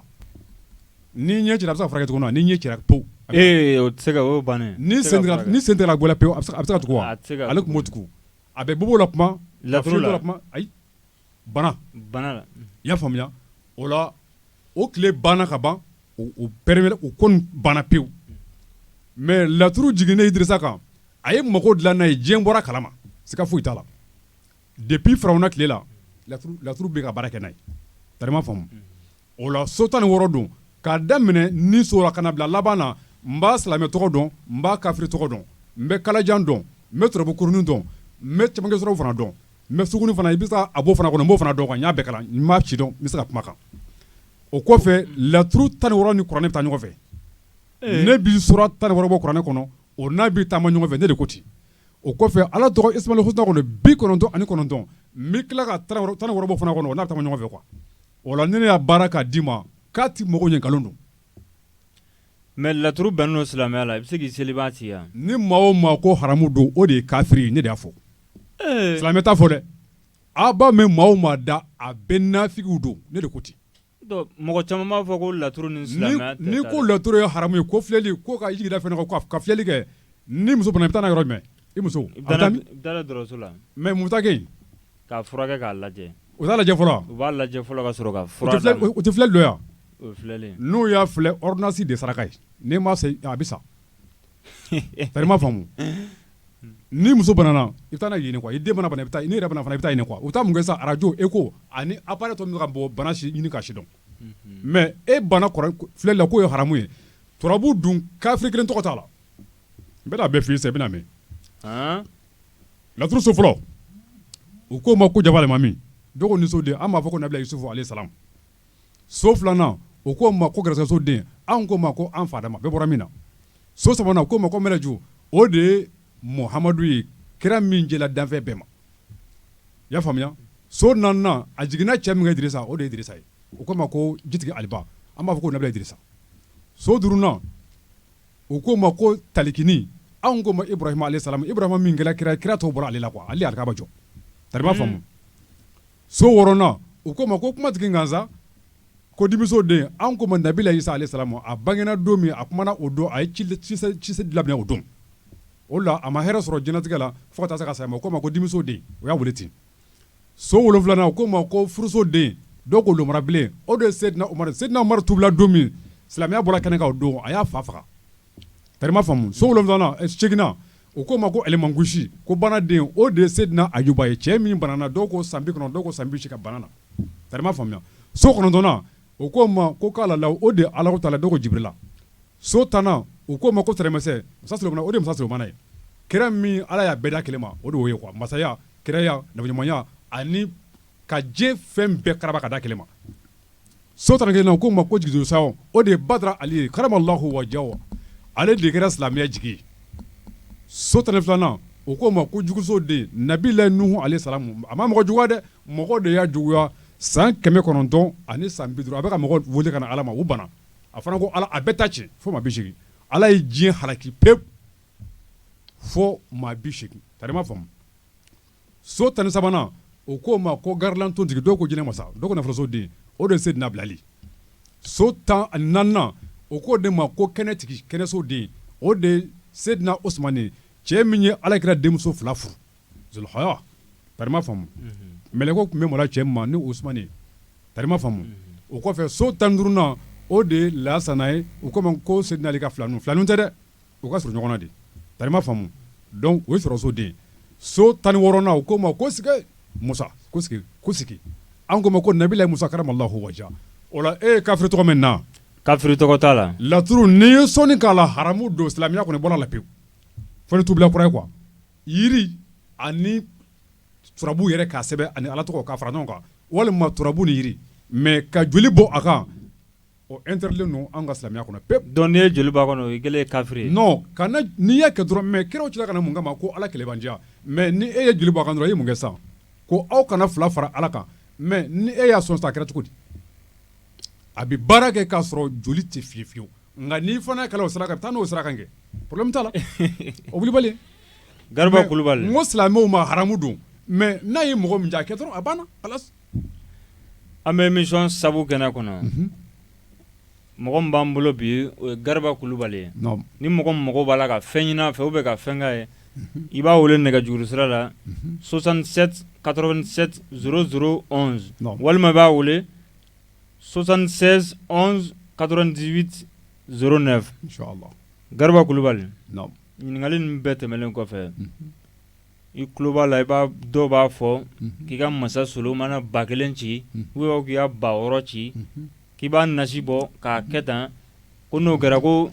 Speaker 2: ni ɲɛ cira a bɛ se ka furakɛ tuguni ni ɲɛ cira
Speaker 1: pewu o tɛ se ni
Speaker 2: sen gɛlɛ pewu a bɛ se ka tugu wa ale tun b'o tugu a bɛ bobo la kuma la
Speaker 1: ayi
Speaker 2: bana bana la
Speaker 1: unhun i y'a
Speaker 2: faamuya o la o tile banna ka ban o o périméra o kɔni banna pewu mais laturu jiginnen Idirisa kan a ye mago dilan n'a ye diɲɛ bɔra a kalama siga foyi t'a la depuis Firawuna tile la laturu bɛ ka baara kɛ n'a ye tari i m'a faamu O la so tan ni wɔɔrɔ don k'a daminɛ ni so la ka na bila laban na n b'a silamɛ tɔgɔ dɔn n b'a kafiri tɔgɔ dɔn n bɛ kalajan dɔn n bɛ turabu kurunin dɔn n bɛ cɛman sɔrɔ fana dɔn n bɛ sugunɛ fana i bɛ a b'o fana kɔnɔ n b'o fana dɔn kan n y'a bɛɛ kalan n ma ci dɔn n bɛ se ka kuma kan o kɔfɛ laturu tan ni wɔɔrɔ ni kuranɛ bɛ taa ɲɔgɔn fɛ ne bi sura tan ni wɔɔrɔ bɔ kuranɛ kɔnɔ o n'a bɛ taama ɲɔgɔn fɛ ne de ko ten o kɔfɛ ala tɔgɔ Asmaul Husna kɔnɔ bi kɔnɔntɔn ani kɔnɔntɔn n bɛ tila ka tan ni wɔɔrɔ bɔ fana kɔnɔ o n'a bɛ taama ɲɔgɔn fɛ quoi O la ni ne y'a baara k'a d'i ma k'a tɛ mɔgɔw ɲɛ nkalon
Speaker 1: don mais laturu bɛnnen don silamɛya la i bɛ se k'i seliba ci yan ni maa o maa ko
Speaker 2: haramu don o de ye kafiri ne de y'a fɔ silamɛ t'a fɔ dɛ aw b'a mɛn maa o maa da a bɛɛ nafigiw don ne de ko ten mɔgɔ
Speaker 1: caman b'a fɔ ko laturu ni silamɛya tɛ taa ni ko laturu ye haramu
Speaker 2: ye ko filɛli ko ka jigi da fɛn kan ka filɛli kɛ ni muso bana i bɛ taa n'a yɔrɔ jumɛn i muso
Speaker 1: i bɛ taa dɔgɔtɔrɔso la mais mun
Speaker 2: K'a furakɛ
Speaker 1: k'a lajɛ u b'a lajɛ
Speaker 2: fɔlɔ u b'a lajɛ fɔlɔ ka
Speaker 1: sɔrɔ ka fura d'a ma o tɛ filɛli dɔ
Speaker 2: yan o
Speaker 1: filɛlen n'u y'a
Speaker 2: filɛ ordonnance de ye saraka ye n'i m'a san a bɛ sa tari i m'a faamu ni muso banana i bɛ taa n'a ye yen quoi i den mana bana i bɛ taa n'i yɛrɛ banana fana i bɛ taa yen quoi u bɛ taa mun kɛ sisan arajo echo ani appareil tɔ min bɛ ka bɔ bana si ɲini k'a si dɔn mais e banna filɛli la k'o ye haramu ye turabu dun kafiri kelen tɔgɔ t'a la n bɛna a bɛɛ f'i ye sisan i bɛna a mɛn laturuso fɔlɔ u k'o ma ko janfa alimami dɔw ko nisoden an b'a fɔ ko nabila Yusufu alehi salamu so filanan u k'o ma ko garisɛgɛsoden an k'o ma ko an fa Adama bɛɛ bɔra min na so sabanan u k'o ma ko mɛlɛju o de ye Mohamadu ye kira min jɛla danfɛn bɛɛ ma i y'a faamuya so naaninan a jiginna cɛ min Idirisa o de ye Idirisa ye u k'o ma ko jitigi aliba an b'a fɔ ko nabila Idirisa so duurunan U k'o ma ko talikini anw k'o ma Ibrahima alehi salamu Ibrahima min kɛra kira ye kira tɔw bɔra ale la quoi ale de ye alikaba jɔ tari i b'a faamu so wɔɔrɔnan u k'o ma ko kuma tigi gansan ko dimiso den anw k'o ma nabila Isa alehi salamu a bangena don min a kumana o don a ye ci cise labɛn o don o la a ma hɛrɛ sɔrɔ jɛnatigɛ la fo ka taa se a ka saya ma u k'o ma ko dimiso den u y'a wele ten so wolonwulanan u k'o ma ko furuso den dɔw ko lomara bilen o de ye Seydina Umaru tubila don min silamɛya bɔra kɛnɛ kan o don a y'a fa faga tari i m'a faamu so wolonwulanan seeginnan u k'o ma ko alimangusi ko banaden o de ye Seydina Ayuba ye cɛ min banana dɔw ko san bi kɔnɔntɔn dɔw ko san bi seegin ka bana na tari i m'a faamuya so kɔnɔntɔnnan u k'o ma ko kalala o de ye Alahu taala dɔw ko Jibirila so tannan u k'o ma ko tɛrɛmɛsɛ masa Solomana o de ye masa Solomana ye kira min ala y'a bɛɛ da kelen ma o de y'o ye quoi masaya kiraya nabiɲumanya ani ka diɲɛ fɛn bɛɛ karaba ka da kelen ma so tan ni kelennan u k'o ma ko jigiso o de ye Badara Ali ye karama lahu waja ale de kɛra silamɛya jigi ye so tan ni filanan o k'o ma ko juguso den nabila Nuhu alehi salamu a ma mɔgɔ juguya dɛ mɔgɔ de y'a juguya san kɛmɛ kɔnɔntɔn ani san bi duuru a bɛ ka mɔgɔ wele ka na ala ma u banna a fana ko ala a bɛɛ ta ci fo maa bi seegin ala ye diɲɛ halaki pewu fo maa bi seegin tari i m'a faamu so tan ni sabanan u k'o ma ko garilan tontigi dɔw ko jinɛ masa dɔw ko nafolosoden o de ye Seydina Bilali ye so tan ani naaninan u k'o de ma ko kɛnɛtigi kɛnɛsoden o de ye Seydina Usumani ye cɛ min ye Alakira denmuso fila furu zulukɔrɔ tari i m'a faamu mɛlɛkɛw tun bɛ maloya cɛ min ma ni Usumani ye tari i m'a faamu o kɔfɛ so tan ni duurunan o de ye Layasana ye u k'o ma ko Seydina Ali ka filaninw filaninw tɛ dɛ u ka surun ɲɔgɔn na de tari i m'a faamu donc o ye sɔrɔso den ye so 16 nan u k'o ma ko sike Musa ko sike ko sike an k'o ma ko nabilahi Musa karama Laahu wajaha o la e ye kafiri tɔgɔ mɛn nin na wa kafiri tɔgɔ t'a la
Speaker 1: laturu n'i ye
Speaker 2: sɔnni k'a la haramu don silamɛya kɔni bɔra a la pewu fo ni tubila kura ye quoi yiri ani turabu yɛrɛ k'a sɛbɛn ani Ala tɔgɔ k'a fara ɲɔgɔn kan walima turabu ni yiri mais ka joli bɔn a kan O ɛntɛridilen don an ka silamɛya kɔnɔ pewu dɔnku n'i ye joli b'a kɔnɔ
Speaker 1: o kɛlen kafiri ka
Speaker 2: n'i y'a kɛ dɔrɔn mɛ kiraw cila ka na mun kama ko ala kelenlibandiyaya mɛ ni e ye joli b'a kan dɔrɔn i ye mun kɛ sa ko aw kana fila fara ala kan mɛ ni e y'a sɔn sa a kɛra cogo di a bɛ baara kɛ k'a sɔrɔ joli tɛ fiyewu fiyewu nka n'i fana ka sara ka taa n'o sara kɛ porobulɛmu t'a la o kulubali gariba
Speaker 1: kulubali silamɛw ma haramu
Speaker 2: don mɛ n'a ye mɔgɔ min diya a kɛ dɔrɔn a banna
Speaker 1: An bɛ mi sabu kɛnɛ kɔnɔ mɔgɔ b'an bolo bi o ye gariba kulubali ye ni mɔgɔ mɔgɔ b'a la ka fɛn ɲinin fɛ u bɛ ka fɛnka ye i b'a weele nɛgɛ juruuru sira la sosan ka s walima b'a weele sɔsansen ka dibiti s nɛ
Speaker 2: gariba kulubali
Speaker 1: ɲininkakali bɛɛ tɛmɛnen kɔfɛ I tulo b'a la i b'a dɔw b'a fɔ k'i ka masa solomana ba kelen ci u byɛn k'i ka ba wɔɔrɔ ci k'i b'a nasi bɔ k'a kɛ tan ko n'o kɛra ko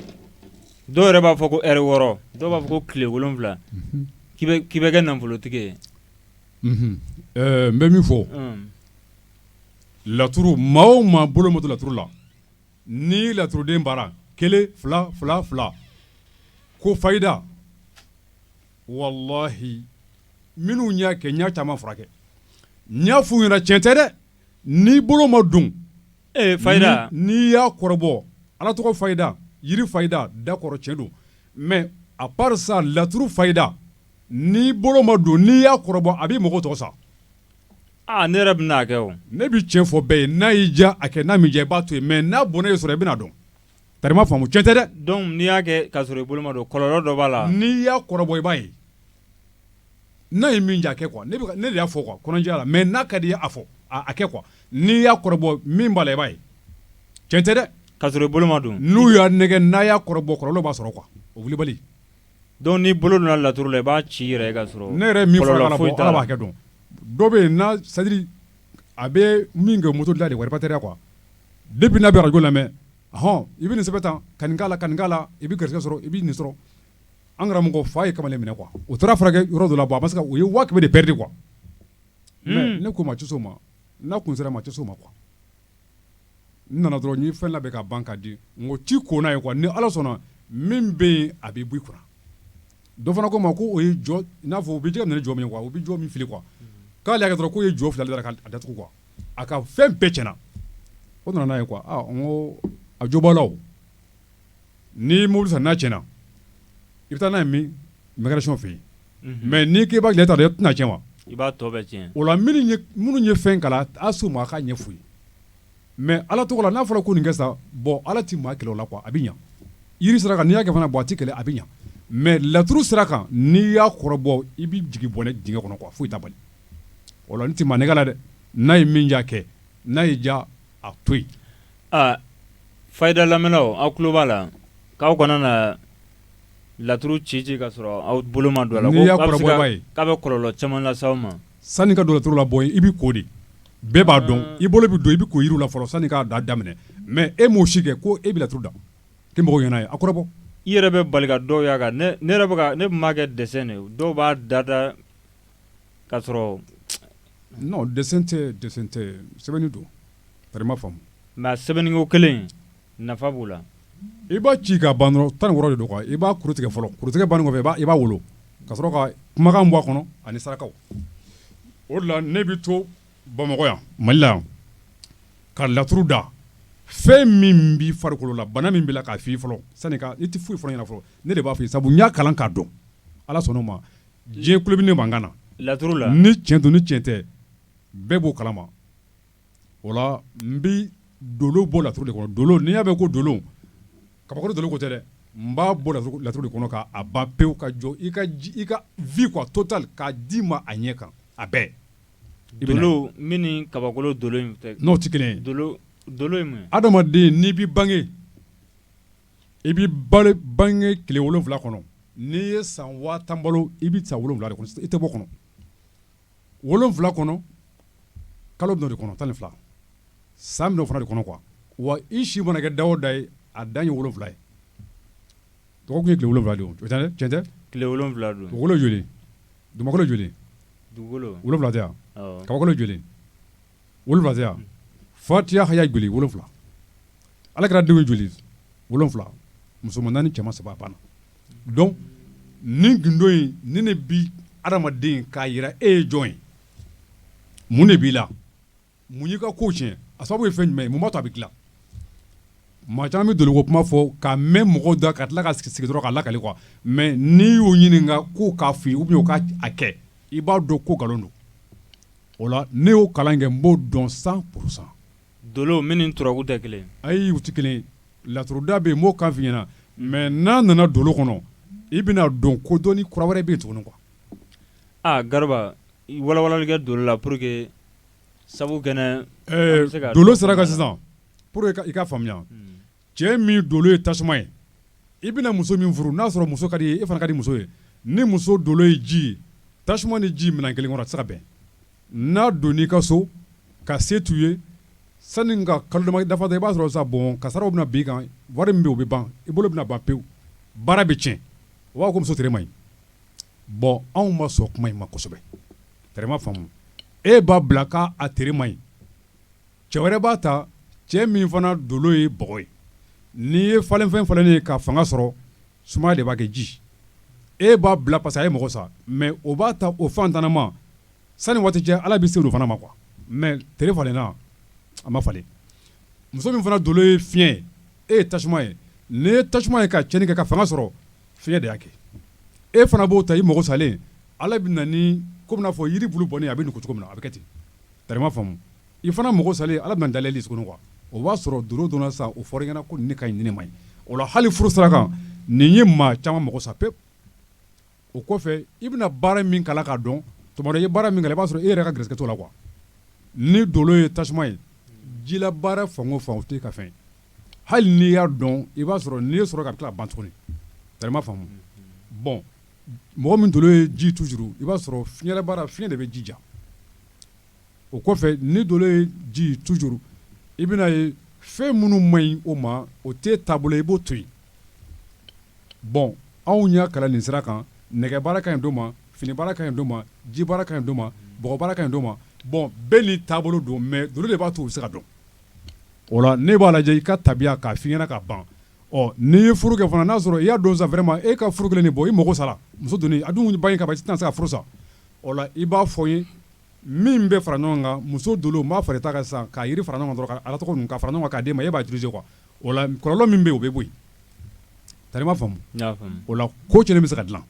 Speaker 1: dɔw yɛrɛ b'a fɔ ko ɛri wɔɔrɔ dɔw b'a fɔ ko tile wolonwula k'i bɛ kɛ nafolotigi
Speaker 2: ye n bɛ min fɔ laturu maa o maa bolo ma don laturu la ni laturuden baara kelen fila fila fila ko fayida walahi minnu y'a kɛ n y'a caman furakɛ n y'a f'u ɲɛna tiɲɛ tɛ dɛ n'i bolo ma don ee
Speaker 1: fayida n'i y'a kɔrɔbɔ
Speaker 2: ala tɔgɔ fayida jiri fayida dakɔri tiɲɛ don mɛ apari sa laturu fayida n'i bolo ma don n'i y'a kɔrɔbɔ a bɛ mɔgɔ tɔɔrɔ sa
Speaker 1: aaa ne yɛrɛ bɛna a kɛ ne bɛ tiɲɛ fɔ bɛɛ ye
Speaker 2: n'a y'i diya a kɛ n'a m'i diya i b'a to yen mɛ n'a bɔnɛ y'i sɔrɔ i bɛna dɔn Tari i m'a faamu tiɲɛ tɛ dɛ dɔnku n'i y'a kɛ
Speaker 1: k'a sɔrɔ i bolo ma don kɔlɔlɔ dɔ b'a la n'i y'a kɔrɔbɔ i
Speaker 2: b'a ye n'a ye min diya a kɛ kuwa ne y'a fɔ kuwa kɔnɔjɛya la mɛ n'a ka di i ye a fɔ a kɛ kuwa n'i y'a kɔrɔbɔ min b'a la i b'a ye tiɲɛ tɛ dɛ k'a sɔrɔ i bolo ma
Speaker 1: don n'u y'a nɛgɛ
Speaker 2: n'a y'a kɔrɔbɔ kɔlɔlɔ b'a sɔrɔ kuwa kulubali dɔnku n'i
Speaker 1: bolo donna laturu la i b'a ci i yɛrɛ ye k'a sɔrɔ ne yɛrɛ min
Speaker 2: b'a kɛ dɔn dɔ bɛ yen n'a sɛtadiri a bɛ min kɛ moto dila de reparatɛriya kuwa depi n'a bɛ arajo lamɛn hɔn i bɛ nin sɛbɛn tan ka nin k'a la ka nin k'a la i bɛ garisɛgɛ sɔrɔ i bɛ nin sɔrɔ an karamɔgɔ fa ye kamalen minɛ kuwa u taara furakɛ yɔrɔ dɔ la a ma se u ye waa kɛmɛ de pɛrɛdi kuwa mɛ ne ko maa tɛ s'o ma n'a kun sera maa tɛ s'o ma kuwa nana dɔrɔn n ye fɛn labɛn ka ban ka di n ko ci ko n'a ye kuwa ni ala sɔnna min bɛ yen a bɛ bɔ i kunna dɔ fana ko n ma ko o ye jɔ i n'a fɔ u bɛ jɛgɛ minɛ ni jɔ min ye kuwa u bɛ jɔ min fili kuwa k'ale y'a kɛ dɔrɔn k'o ye jɔ fili de k'a datugu kuwa a ka fɛn bɛɛ cɛnna o nana n'a ye kuwa a jo b'aw la ni mobili san n'a tiɲɛna i bɛ taa n'a ye min mécanicien fɛ yen mais n'i k'i b'a dilan i t'a dɔn i tɛn'a cɛn wa i b'a tɔ cɛn
Speaker 1: o la minnu
Speaker 2: ye fɛn kalan a s'u ma a k'a ɲɛ f'u ye mais ala tɔgɔ la n'a fɔra ko nin kɛ sa bɔn ala tɛ maa kɛlɛ o la quoi a bɛ ɲɛ jiri sira kan n'i y'a fana bɔ a tɛ kɛlɛ a bɛ ɲɛ mais laturu sira kan n'i y'a kɔrɔbɔ i bɛ jigin bɔnɛ dingɛ kɔnɔ quoi foyi t'a bali o la n tɛ maa nɛgɛn la dɛ n'a ye min ja kɛ n'a ye ja a to yen
Speaker 1: Fayida lamɛnnaw aw tulo b'a la k'aw kana na laturu ci ci ka sɔrɔ aw bolo ma don a la k'a
Speaker 2: bɛ kɔlɔlɔ caman
Speaker 1: lase aw ma sanni ka don laturu la bɔ
Speaker 2: i b'i ko de bɛɛ b'a dɔn i bolo bɛ don i bɛ ko yiri la fɔlɔ sanni k'a da daminɛ mais e m'o si kɛ ko e bɛ laturu da k'i mɔgɔ ɲɛna ye a kɔrɔbɔ i yɛrɛ bɛ bali
Speaker 1: quoi dɔw y'a kan ne b'a kɛ dessin de dɔw b'a da da k'a sɔrɔ
Speaker 2: dessin tɛ dessin tɛ sɛbɛnni don nka
Speaker 1: sɛbɛnni kelen nafa b'o la i b'a ci
Speaker 2: ka ban dɔrɔn tan ni wɔɔrɔ de don i b'a kuru tigɛ fɔlɔ kuru tigɛ bannen kɔfɛ i b'a wolo ka sɔrɔ ka kumakan bɔ a kɔnɔ ani saraka o la ne bɛ to bamakɔ yan mali yan ka laturu da fɛn min b'i farikolo la bana min b'i la k'a f'i fɔlɔ sani i tɛ foyi fɔ n ɲɛna fɔlɔ ne de b'a fɔ i ye sabu n y'a kalan k'a dɔn ala sɔnna o ma diɲɛ kulo bɛ ne mankan na laturu la ni cɛn
Speaker 1: don ni cɛn tɛ
Speaker 2: bɛɛ b'o kalama n bɛ dolo bɔ laturu de kɔnɔ dolo n'i y'a mɛn ko dolo kabakolo dolo ko tɛ dɛ n b'a bɔ laturu de kɔnɔ k'a ban pewu ka jɔ i ka vie quoi total k'a d'i ma a ɲɛ kan a bɛɛ
Speaker 1: dolo min ni kabakolo dolo n'o tɛ kelen ye adamaden n'i bɛ
Speaker 2: bange i bɛ bange tile wolonwula kɔnɔ n'i ye san waa tan balo i bɛ sa wolonwula de i tɛ bɔ kɔnɔ wolonwula kɔnɔ kalo dɔ de kɔnɔ tan ni fila san dɔ fana de kɔnɔ qu wa i si mana kɛ dada ye a dan ye wolowula ye dɔgɔkun ye wolowula don wolonwula don
Speaker 1: wolo joli
Speaker 2: dugu
Speaker 1: wolowula
Speaker 2: ka joli wolonwula fatiya haya joli wolonwula ala kira denw joli wolonwula musoman naani cɛman saba banna donc ni gundo in ni ne bi adamaden k'a jira e ye jɔn ye mun de b'i la mun y'i ka ko tiɲɛ a sababu ye fɛn jumɛn ye mun b'a to a bɛ dilan maa caman bɛ dolo ko kuma fɔ ka mɛn mɔgɔw da ka tila ka sigi sigi dɔrɔn ka lakali quoi mais n'i y'o ɲininka ko k'a fɔ ou bien k'a kɛ i b'a dɔn ko nkalon don o la ne y'o kalan kɛ n b'o dɔn cent pour cent dolo min
Speaker 1: ni turabu da kelen ayi u tɛ kelen
Speaker 2: laturuda bɛ yen n b'o kan f'i ɲɛna mais n'a nana dolo kɔnɔ i bɛna dɔn ko dɔnni kura wɛrɛ bɛ yen tuguni quoi aa
Speaker 1: Garba walawalali kɛ dolo la pour que sabu kɛnɛ dolo
Speaker 2: sira kan sisan pour que i ka faamuya Cɛ min dolo ye tasuma ye i bɛna muso min furu n'a sɔrɔ muso ka d'i ye e fana ka di muso ye ni muso dolo ye ji ye tasuma ni ji minɛn kelen kɔnɔ a tɛ se ka bɛn n'a donna i ka so ka se t'i ye sani ka kalo saba dafa i b'a sɔrɔ sa bɔn kasara bɛna bin i kan wari min bɛ yen o bɛ ban i bolo bɛna ban pewu baara bɛ cɛn u b'a fɔ ko muso tere man ɲi bɔn anw ma sɔn kuma in ma kosɛbɛ tari i m'a faamu e b'a bila k'a tere man ɲi Cɛ wɛrɛ b'a ta cɛ min fana dolo ye bɔgɔ ye n'i ye falenfɛn falen ye ka fanga sɔrɔ sumaya de b'a kɛ ji e b'a bila pasa a y'i mago sa mɛ o b'a ta o fantanma sani waati cɛ ala bɛ se o fana ma kuwa mɛ tere falenna a ma falen muso min fana dolo ye fiɲɛ ye e ye tasuma ye n'i ye tasuma ye ka cɛnni kɛ ka fanga sɔrɔ fiɲɛ de y'a kɛ e fana b'o ta i mago salen ala bɛ na ni ko b'i n'a fɔ yiri bulu bɔnnen a bɛ nugu cogo min na a bɛ kɛ ten tari i m'a faamu I fana mago salen ala bɛna da yɛlɛ tugun kuwa o b'a sɔrɔ dolo dɔnna sa o fɔr'i ɲɛna ko nin ka ɲi nin man ɲi o la hali furu sira kan nin ye maa caman mago sa pewu o kɔfɛ i bɛna baara min kalan k'a dɔn tuma dɔ i ye baara min kalan i b'a sɔrɔ e yɛrɛ ka garijɛgɛ t'o la kuwa n'i dolo ye tasuma ye jila baara fan o fan o t'i ka fɛn hali n'i y'a dɔn i b'a sɔrɔ n'i ye sɔrɔ ka tila ka ban tugun tari i m'a faamu bɔn mɔgɔ min dolo ye ji tujuru i b'a sɔrɔ fiɲɛ baara fiɲɛ de bɛ ji ja o kɔfɛ n'i dolo ye ji tujuru i bɛna ye fɛn minnu man ɲi o ma o t'e taabolo i b'o to yen bɔn anw y'a kalan nin sira kan nɛgɛ baara ka ɲi dɔ ma fini baara ka ɲi dɔ ma ji baara ka ɲi dɔ ma bɔgɔ baara ka ɲi dɔ ma bɔn bɛɛ n'i taabolo don mɛ dolo de b'a to u bɛ se k'a dɔn o la ne b'a lajɛ i ka tabiya k'a f'i ɲɛna ka ban ɔ n'i ye furu kɛ fana n'a sɔrɔ i y'a dɔn sa vraiment e ka furu kelen nin bɔ i mago sara muso don a dun ba in ka ban i tɛna se ka furu sa i b'a fɔ n ye min bɛ fara ɲɔgɔn kan muso dolo n b'a fara i ta kan sisan ka yiri fara ɲɔgɔn kan ka ala tɔgɔ ka fara ɲɔgɔn kan k'a d'e ma e b'a utiliser kuwa o la kɔlɔlɔ min bɛ yen o bɛ bɔ yen tari i m'a faamu o la ko cɛnnen bɛ se ka dilan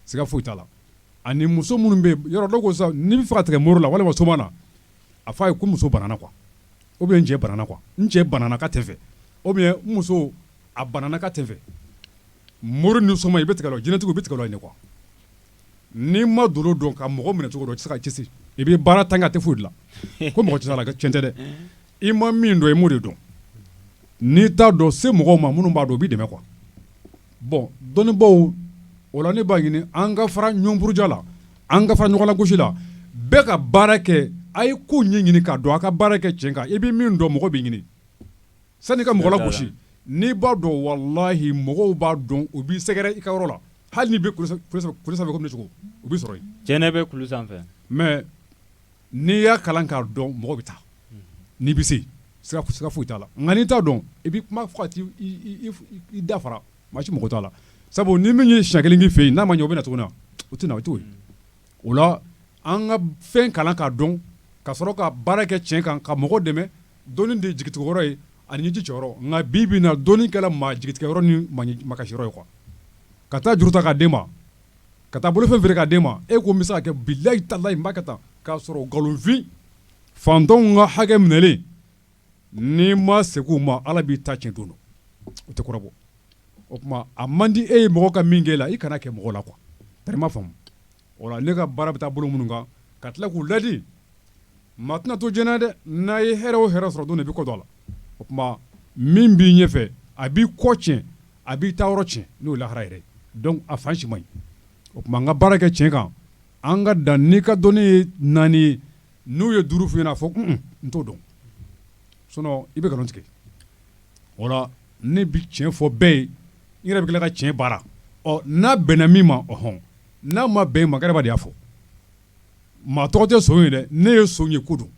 Speaker 2: siga foyi t'a la ani muso minnu bɛ yen yɔrɔ dɔ ko sisan n'i b'a fɛ ka tigɛ mori la walima soma na a f'a ye ko muso banana kuwa ou bien n cɛ banana kuwa n cɛ banana ka tɛ fɛ ou bien n muso a banana ka tɛ fɛ mori ni soma i bɛ tigɛ u la jinɛtigiw i bɛ tigɛ u la yen kuwa N'i ma dolo dɔn ka mɔgɔ minɛ cogo dɔ i tɛ se ka kisi i bɛ baara tan kɛ a tɛ foyi dilan ko mɔgɔ tɛ se a la cɛn tɛ dɛ i ma min dɔn i m'o de dɔn n'i t'a dɔn se mɔgɔw ma minnu b'a dɔn u b'i dɛmɛ kuwa bɔn dɔnnibaw o la ne b'a ɲini an ka fara ɲɔgɔn buruja la an ka fara ɲɔgɔn lagosi la bɛɛ ka baara kɛ a ye ko ɲɛɲini k'a dɔn a ka baara kɛ cɛn kan i bɛ min dɔn mɔgɔ b'i ɲini Sani ka mɔgɔ lagosi n'i b'a dɔn walahi mɔgɔw b'a dɔn u b'i sɛgɛrɛ i ka yɔrɔ la hali n'i bɛ kulu sanfɛ komi ne cogo u b'i sɔrɔ yen jɛnɛ bɛ kulu sanfɛ mais n'i y'a kalan k'a dɔn mɔgɔ bɛ taa n'i bɛ se siga foyi t'a la nka n'i t'a dɔn i bɛ kuma fɔ ka t'i da fara maa si mago t'a la sabu ni min ye siɲɛ kelen k'i fɛ yen n'a ma ɲɛ o bɛ na tuguni wa o tɛ na o to yen o la an ka fɛn kalan k'a dɔn ka sɔrɔ ka baara kɛ tiɲɛ kan ka mɔgɔ dɛmɛ dɔnni de ye jigitigɛ yɔrɔ ye ani ɲɛji cɛ yɔrɔ nka bi bi in na dɔnni kɛla maa jigitigɛ yɔrɔ ni makasi yɔrɔ ye quoi ka taa juru ta k'a d'e ma ka taa bolofɛn feere k'a d'e ma e ko n bɛ se k'a kɛ bilahi talahi n b'a kɛ tan ka sɔrɔ nkalonfin faantanw ka hakɛ minɛlen N'i ma segin u ma Ala b'i ta cɛn don o tɛ kɔrɔbɔ o tuma a man di e ye mɔgɔ ka min kɛ e la i kana kɛ mɔgɔ la quoi tari i m'a faamu o la ne ka baara bɛ taa bolo minnu kan ka tila k'u ladi maa tɛna to jɛnɛ dɛ n'a ye hɛrɛ o hɛrɛ sɔrɔ don de bɛ kɔ don a la o tuma min b'i ɲɛ fɛ a b'i kɔ tiɲɛ a b'i taa yɔrɔ cɛn n'o ye lahara yɛrɛ a fan si man ɲi o tuma an ka baara kɛ tiɲɛ kan an ka dan n'i ka dɔnni ye naani ye n'u ye duuru f'i ɲɛna a fɔ un-un n t'o dɔn sinon i bɛ nkalon tigɛ o la ne bɛ tiɲɛ fɔ bɛɛ ye n yɛrɛ bɛ tila ka tiɲɛ baara ɔ n'a bɛnna min ma ɔhɔn n'a ma bɛn min ma Kaderaba de y'a fɔ maa tɔgɔ tɛ son ye dɛ n'e ye son ye ko don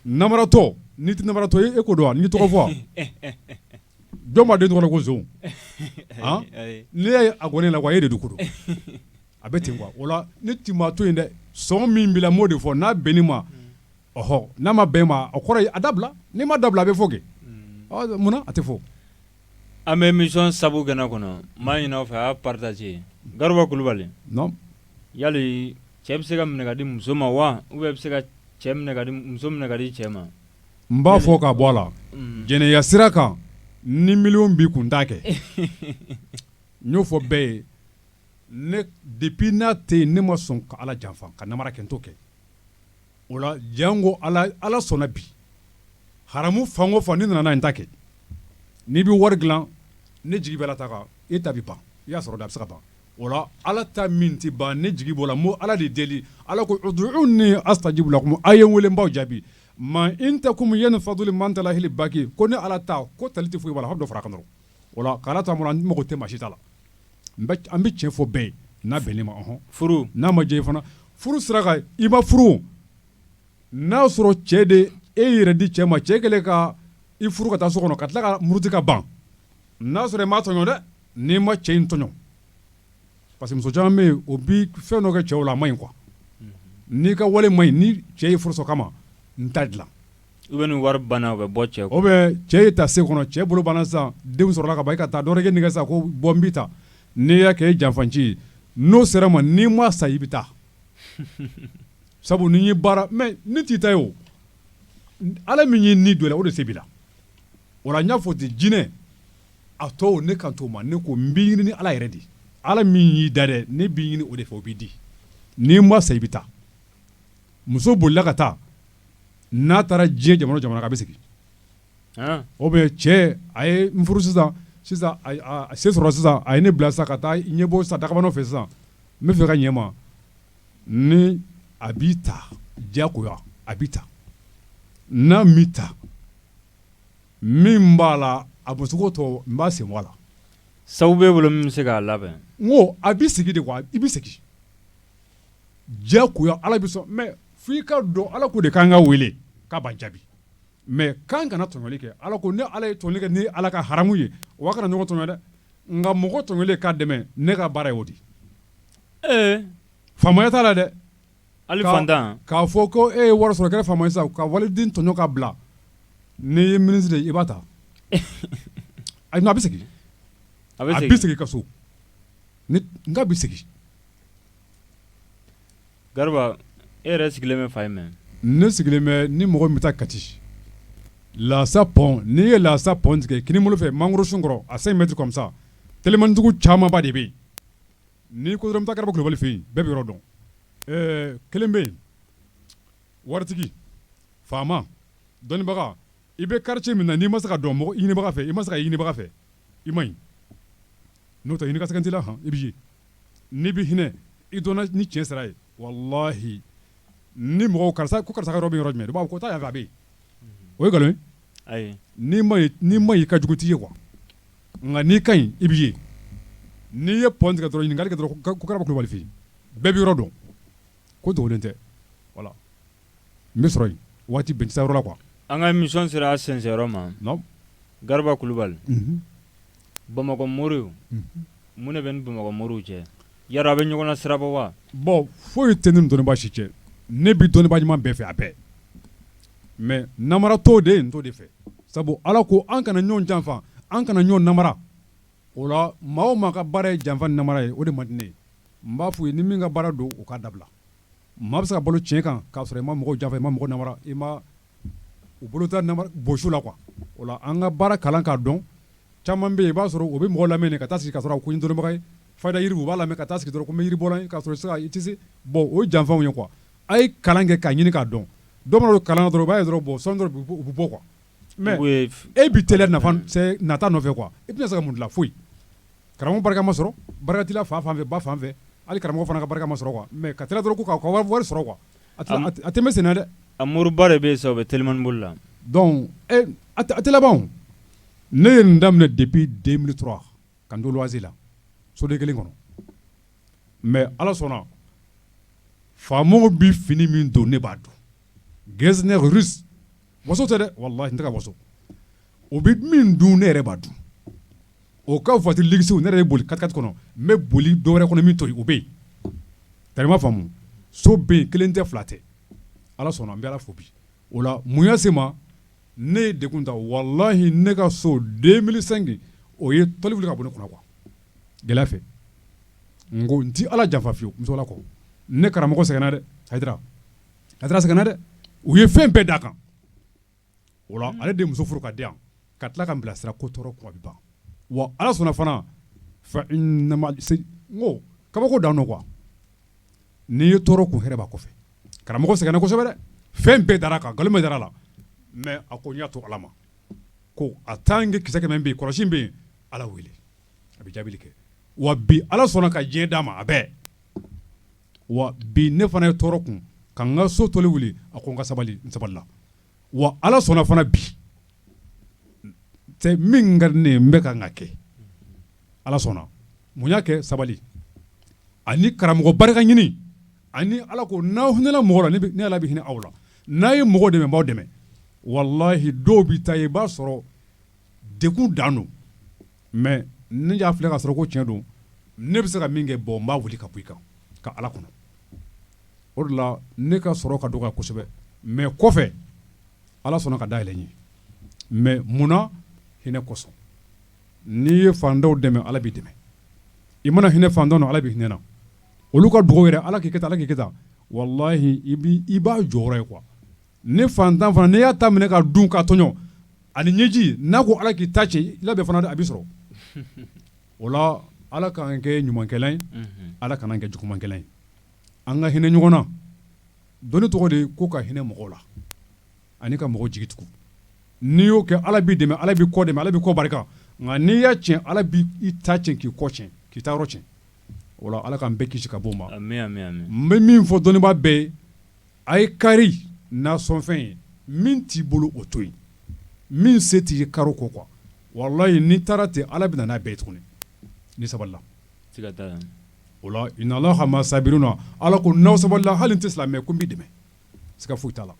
Speaker 2: namaratɔ n'i tɛ namaratɔ ye e ko don wa n y'i tɔgɔ fɔ wa jɔn b'a den tɔgɔ da ko son han n'i y'a ye a gɔnnen na ko ayi e de don ko don A bɛ ten o la ne tɛ maa to yen dɛ sɔn min b'i la n b'o de fɔ n'a bɛnn'e ma ɔhɔ n'a ma bɛn ma a kɔrɔ a dabila n'i m'a dabila a bɛ fɔ kɛ munna a tɛ fɔ an bɛ
Speaker 1: émission sabu kɛnɛ kɔnɔ n b'a ɲini aw fɛ a y'a partager Garuba
Speaker 2: Kulubali
Speaker 1: yali cɛ bɛ se ka minɛ ka di muso ma wa u bɛ se ka cɛ muso minɛ ka di cɛ ma n b'a fɔ
Speaker 2: ka bɔ a la jɛnɛya sira kan ni miliyɔn b'i kun n t'a kɛ n y'o fɔ bɛɛ ye ne depuis n'a tɛ yen ne ma sɔn ka Ala janfa ka namara kɛ n t'o kɛ o la jango Ala Ala sɔnna bi haramu fan o fan n'i nana n'a ye n t'a kɛ n'i bɛ wari dilan ne jigi bɛ Ala ta kan e ta bɛ ban i y'a sɔrɔ da a bɛ se ka ban o la Ala ta min tɛ ban ne jigi b'o la n bɛ Ala de deli Ala ko uduuni astajibu lakumu a' ye n wele n b'aw jaabi ma indakum yanfadu wa ma indallahi baki ko ne Ala ta ko tali tɛ foyi b'a la fo dɔ far'a kan dɔrɔn O la k'Ala ta an mago tɛ maa si ta la an bɛ tiɲɛ fɔ bɛɛ ye n'a bɛnn'e ma hɔn furu n'a ma
Speaker 1: diya
Speaker 2: fana furu sira kan i ma furu n'a y'a sɔrɔ cɛ de e yɛrɛ di cɛ ma cɛ kɛlen ka i furu ka taa so kɔnɔ ka tila ka muruti ka ban n'a sɔrɔ i m'a tɔɲɔ dɛ n'i ma cɛ in tɔɲɔ parce que muso caman bɛ yen o bɛ fɛn dɔ kɛ cɛw la a ma ɲi quoi n'i ka wale ma ɲi ni cɛ ye furu sa kama n t'a dilan Ou bien ni
Speaker 1: wari banna u bɛ bɔ cɛ o bɛ cɛ ye ta
Speaker 2: se kɔnɔ cɛ bolo banna sisan denw sɔrɔla ka ban i ka taa dɔgɔkɛ nɛgɛn sisan ko bɔ n b'i ta n'i y'a kɛ janfanci ye n'o sera ma n'i ma sa i bɛ taa sabu ni baara mais ne t'i ta ye o ala min ye ni don i la o de se b'i la o la n y'a fɔ ten jinɛ a tɔw ne kan t'o ma ne ko n b'i ɲini ala yɛrɛ de ala min y'i da dɛ ne b'i ɲini o de fɛ o b'i di n'i ma sa i bɛ taa muso bolila ka taa n'a taara diɲɛ jamana o jamana kan a bɛ segin ou bien cɛ a ye n furu sisan sisan se sɔrɔ sisan a ye ne bila sisan ka taa ɲɛ bɔ sisan dagabanaw fɛ sisan n bɛ fɛ ka ɲɛma ni a b'i ta diyagoya a b'i ta n'a m'i ta min b'a la a musoko tɔ n b'a sen bɔ a la sabu bɛ bolo
Speaker 1: min bɛ se k'a labɛn n a b'i
Speaker 2: sigi de quoi i bɛ sigi diyagoya ala bɛ sɔn mais f'i ka dɔn ala ko de k'an k'a weele k'a b'an jaabi mais k'an kana tɔɲɔli kɛ ala ko ne ala ye tɔɲɔli kɛ ne ala kan haramu ye aw kana ɲɔgɔn tɔɲɔ dɛ nka mɔgɔ tɔɲɔlen k'a dɛmɛ ne ka baara ye o de faamaya t'a la dɛ hali
Speaker 1: k'a fɔ ko e
Speaker 2: ye wari sɔrɔ kɛ faama ye sisan ka waliden tɔɲɔ k'a bila n'i ye ministre de i b'a ta a a bɛ segin a bɛ segin ka so Nka a bɛ
Speaker 1: segin Garba e yɛrɛ sigilen bɛ fan jumɛn ne sigilen bɛ
Speaker 2: ni mɔgɔ min bɛ taa kati lasa pɔn n'i ye lasa pɔn tigɛ kini bolo fɛ mangoro sun kɔrɔ à cinq mètres comme ça telimantigiw camanba de bɛ yen n'i ko dɔrɔn n bɛ taa Garba kulubali fɛ yen bɛɛ bɛ yɔrɔ dɔn kelen bɛ yen waritigi faama dɔnnibaga I bɛ quartier min na n'i ma se ka dɔn mɔgɔ ɲinibaga fɛ i ma se ka ɲinibaga fɛ i ma ɲi n'o tɛ ɲini ka sɛgɛn t'i la i bɛ ye n'i bɛ hinɛ i dɔnna ni tiɲɛ sira ye walahi ni mɔgɔ karisa ko karisa yɔrɔ bɛ yɔrɔ jumɛn i b'a fɔ ko taa yan fɛ a bɛ yen o ye nkalon ye
Speaker 1: ayi
Speaker 2: n'i ma ɲi i ka jugu t'i ye quoi nka n'i ka ɲi i bɛ ye n'i ye pɔn tigɛ dɔrɔn ɲininkali kɛ dɔrɔn ko Garba kulubali bɛɛ bɛ yɔrɔ dɔn ko dogolen tɛ voilà N bɛ sɔrɔ yen waati bɛɛ n tɛ se yɔrɔ la quoi an ka émission
Speaker 1: sera a sɛnsɛnyɔrɔ
Speaker 2: ma Garba
Speaker 1: kulubali bamakɔ moriw mun de b'e ni bamakɔ moriw cɛ yala a bɛ ɲɔgɔn na sirabɔ wa bon foyi yɛrɛ tɛ
Speaker 2: ne ni dɔnnibaa si cɛ ne bɛ dɔnnibaa ɲuman bɛɛ fɛ a bɛɛ mais namaratɔw de n t'o de fɛ sabu ala ko an kana ɲɔgɔn janfa an kana ɲɔgɔn namara o la maa o maa ka baara ye janfa ni namara ye o de man di ne ye n b'a f'u ye ni min ka baara don o k'a dabila Maa bɛ se ka balo tiɲɛ kan k'a sɔrɔ i ma mɔgɔ janfa i ma mɔgɔ namara i ma u bolo ta bosi u la quoi o la an ka baara kalan k'a dɔn caman bɛ yen i b'a sɔrɔ o bɛ mɔgɔ lamɛn ka taa sigi ka sɔrɔ ko dɔnnibaga ye fayida yiri u b'a lamɛn ka taa sigi dɔrɔn ko mi bɔ ka sɔrɔ sisan i tɛ se bon o ye janfaw ye quoi a ye kalan kɛ k'a ɲini k'a dɔn dɔw kalan dɔrɔn b'a dɔrɔn bon sɔɔni dɔrɔn u bɛ bɔ quoi Mais Umu ye f e bi teliya nafa n sɛɛ nata nɔfɛ quoi i tɛna se ka mun dilan foyi karamɔgɔ barika ma sɔrɔ barika t'i la fa fanfɛ ba fanfɛ hali karamɔgɔ fana ka barika ma sɔrɔ quoi mais ka teliya dɔrɔn ko ka u ka wa wari sɔrɔ quoi a tɛ se a tɛ a tɛ mɛn senna dɛ a moriba de bɛ
Speaker 1: yen sisan o bɛ telimani boli la donc e
Speaker 2: n a tɛ a tɛ laban o ne ye nin daminɛ depuis 2003 ka n to loyer la soden 1 kɔnɔ mais Ala sɔnna faamaw bi fini min don ne b'a don Getzner riche Waso tɛ dɛ walahi n tɛ ka waso o bɛ min dun ne yɛrɛ b'a dun o ka voiture luxew ne ye boli 4x4 kɔnɔ n bɛ boli dɔ wɛrɛ kɔnɔ min to o bɛ yen tari b'a faamu so bɛ yen kelen tɛ fila tɛ ala sɔnna n bɛ ala fo bi o la mun y'a se ma ne ye degun ta walahi ne ka so 2005 o ye tɔli wuli ka bɔ ne kunna quoi gɛlɛya fɛ n ko n tɛ ala janfa fiyewu muso la kɔ ne karamɔgɔ sɛgɛnna dɛ a Hayidara sɛgɛnna dɛ u ye fɛn bɛɛ d'a kan o la ale de ye muso furu ka di yan ka tila ka n bilasira ko tɔɔrɔ kun a bɛ ban wa ala sɔnna fana fa ko kabako dan don quoi n'i ye tɔɔrɔ kun hɛrɛ b'a kɔfɛ karamɔgɔ sɛgɛnna kosɛbɛ dɛ fɛn bɛɛ dara a kan nkalon bɛɛ dara a la mais a ko n y'a to ala ma ko a tant que kisɛ kɛmɛ bɛ yen kɔlɔsi bɛ yen ala wele a bɛ jaabi kɛ wa bi ala sɔnna ka diɲɛ d'a ma a bɛɛ wa bi ne fana ye tɔɔrɔ kun ka n ka so tɔli wuli a ko n ka sabali n sabalila wa ala sɔnna fana bi min ka di ne ye n bɛ ka ka kɛ ala sɔnna mun y'a kɛ sabali ani karamɔgɔ barika ɲini ani ala ko n'aw hinɛla mɔgɔ la ne ala bɛ hinɛ aw la n'aw ye mɔgɔ dɛmɛ n b'aw dɛmɛ walahi dɔw bɛ taa yen i b'a sɔrɔ degun dan don mais ne y'a filɛ k'a sɔrɔ ko tiɲɛ don, ne bɛ se ka min kɛ bon n b'a wuli ka bɔ i kan ka Ala kɔnɔ, o de la ne ka sɔrɔ ka dɔgɔya kosɛbɛ mais kɔfɛ Ala sɔnna ka dayɛlɛ n ye mais munna? hinɛ kosɔn, n'i ye faantanw dɛmɛ Ala b'i dɛmɛ, i mana hinɛ faantanw na Ala b'i hinɛ na, olu ka dugawu yɛrɛ Ala k'i kɛ tan Ala k'i kɛ tan walahi i b'i i b'a jɔyɔrɔ ye quoi ni fantan fana n'i y'a ta minɛ k'a dun k'a tɔɲɔ ani ɲɛji n'a ko ala k'i ta cɛn i laban fana a b'i sɔrɔ o la ala k'an kɛ ɲumankɛla ye ala kan'an kɛ jugumankɛla ye an ka hinɛ ɲɔgɔn na dɔnni tɔgɔ de ko ka hinɛ mɔgɔw la ani ka mɔgɔ jigi tugu n'i y'o kɛ ala b'i dɛmɛ ala b'i kɔ dɛmɛ ala b'i kɔ barika nka n'i y'a cɛn ala b'i ta cɛn k'i kɔ cɛn k'i ta yɔrɔ cɛn o la ala k'an bɛɛ kisi ka bɔ o ma n bɛ min fɔ dɔnnibaa bɛɛ ye A ye kari nasɔnfɛn ye min t'i bolo o to yen min se t'i ye kari o kɔ quoi walahi n'i taara ten ala bɛ na n'a bɛɛ ye tuguni n'i sabalila o la inna allaha ma'a sabirina ala ko n'aw sabalila hali n'i tɛ silamɛ ko n b'i dɛmɛ siga foyi t'a la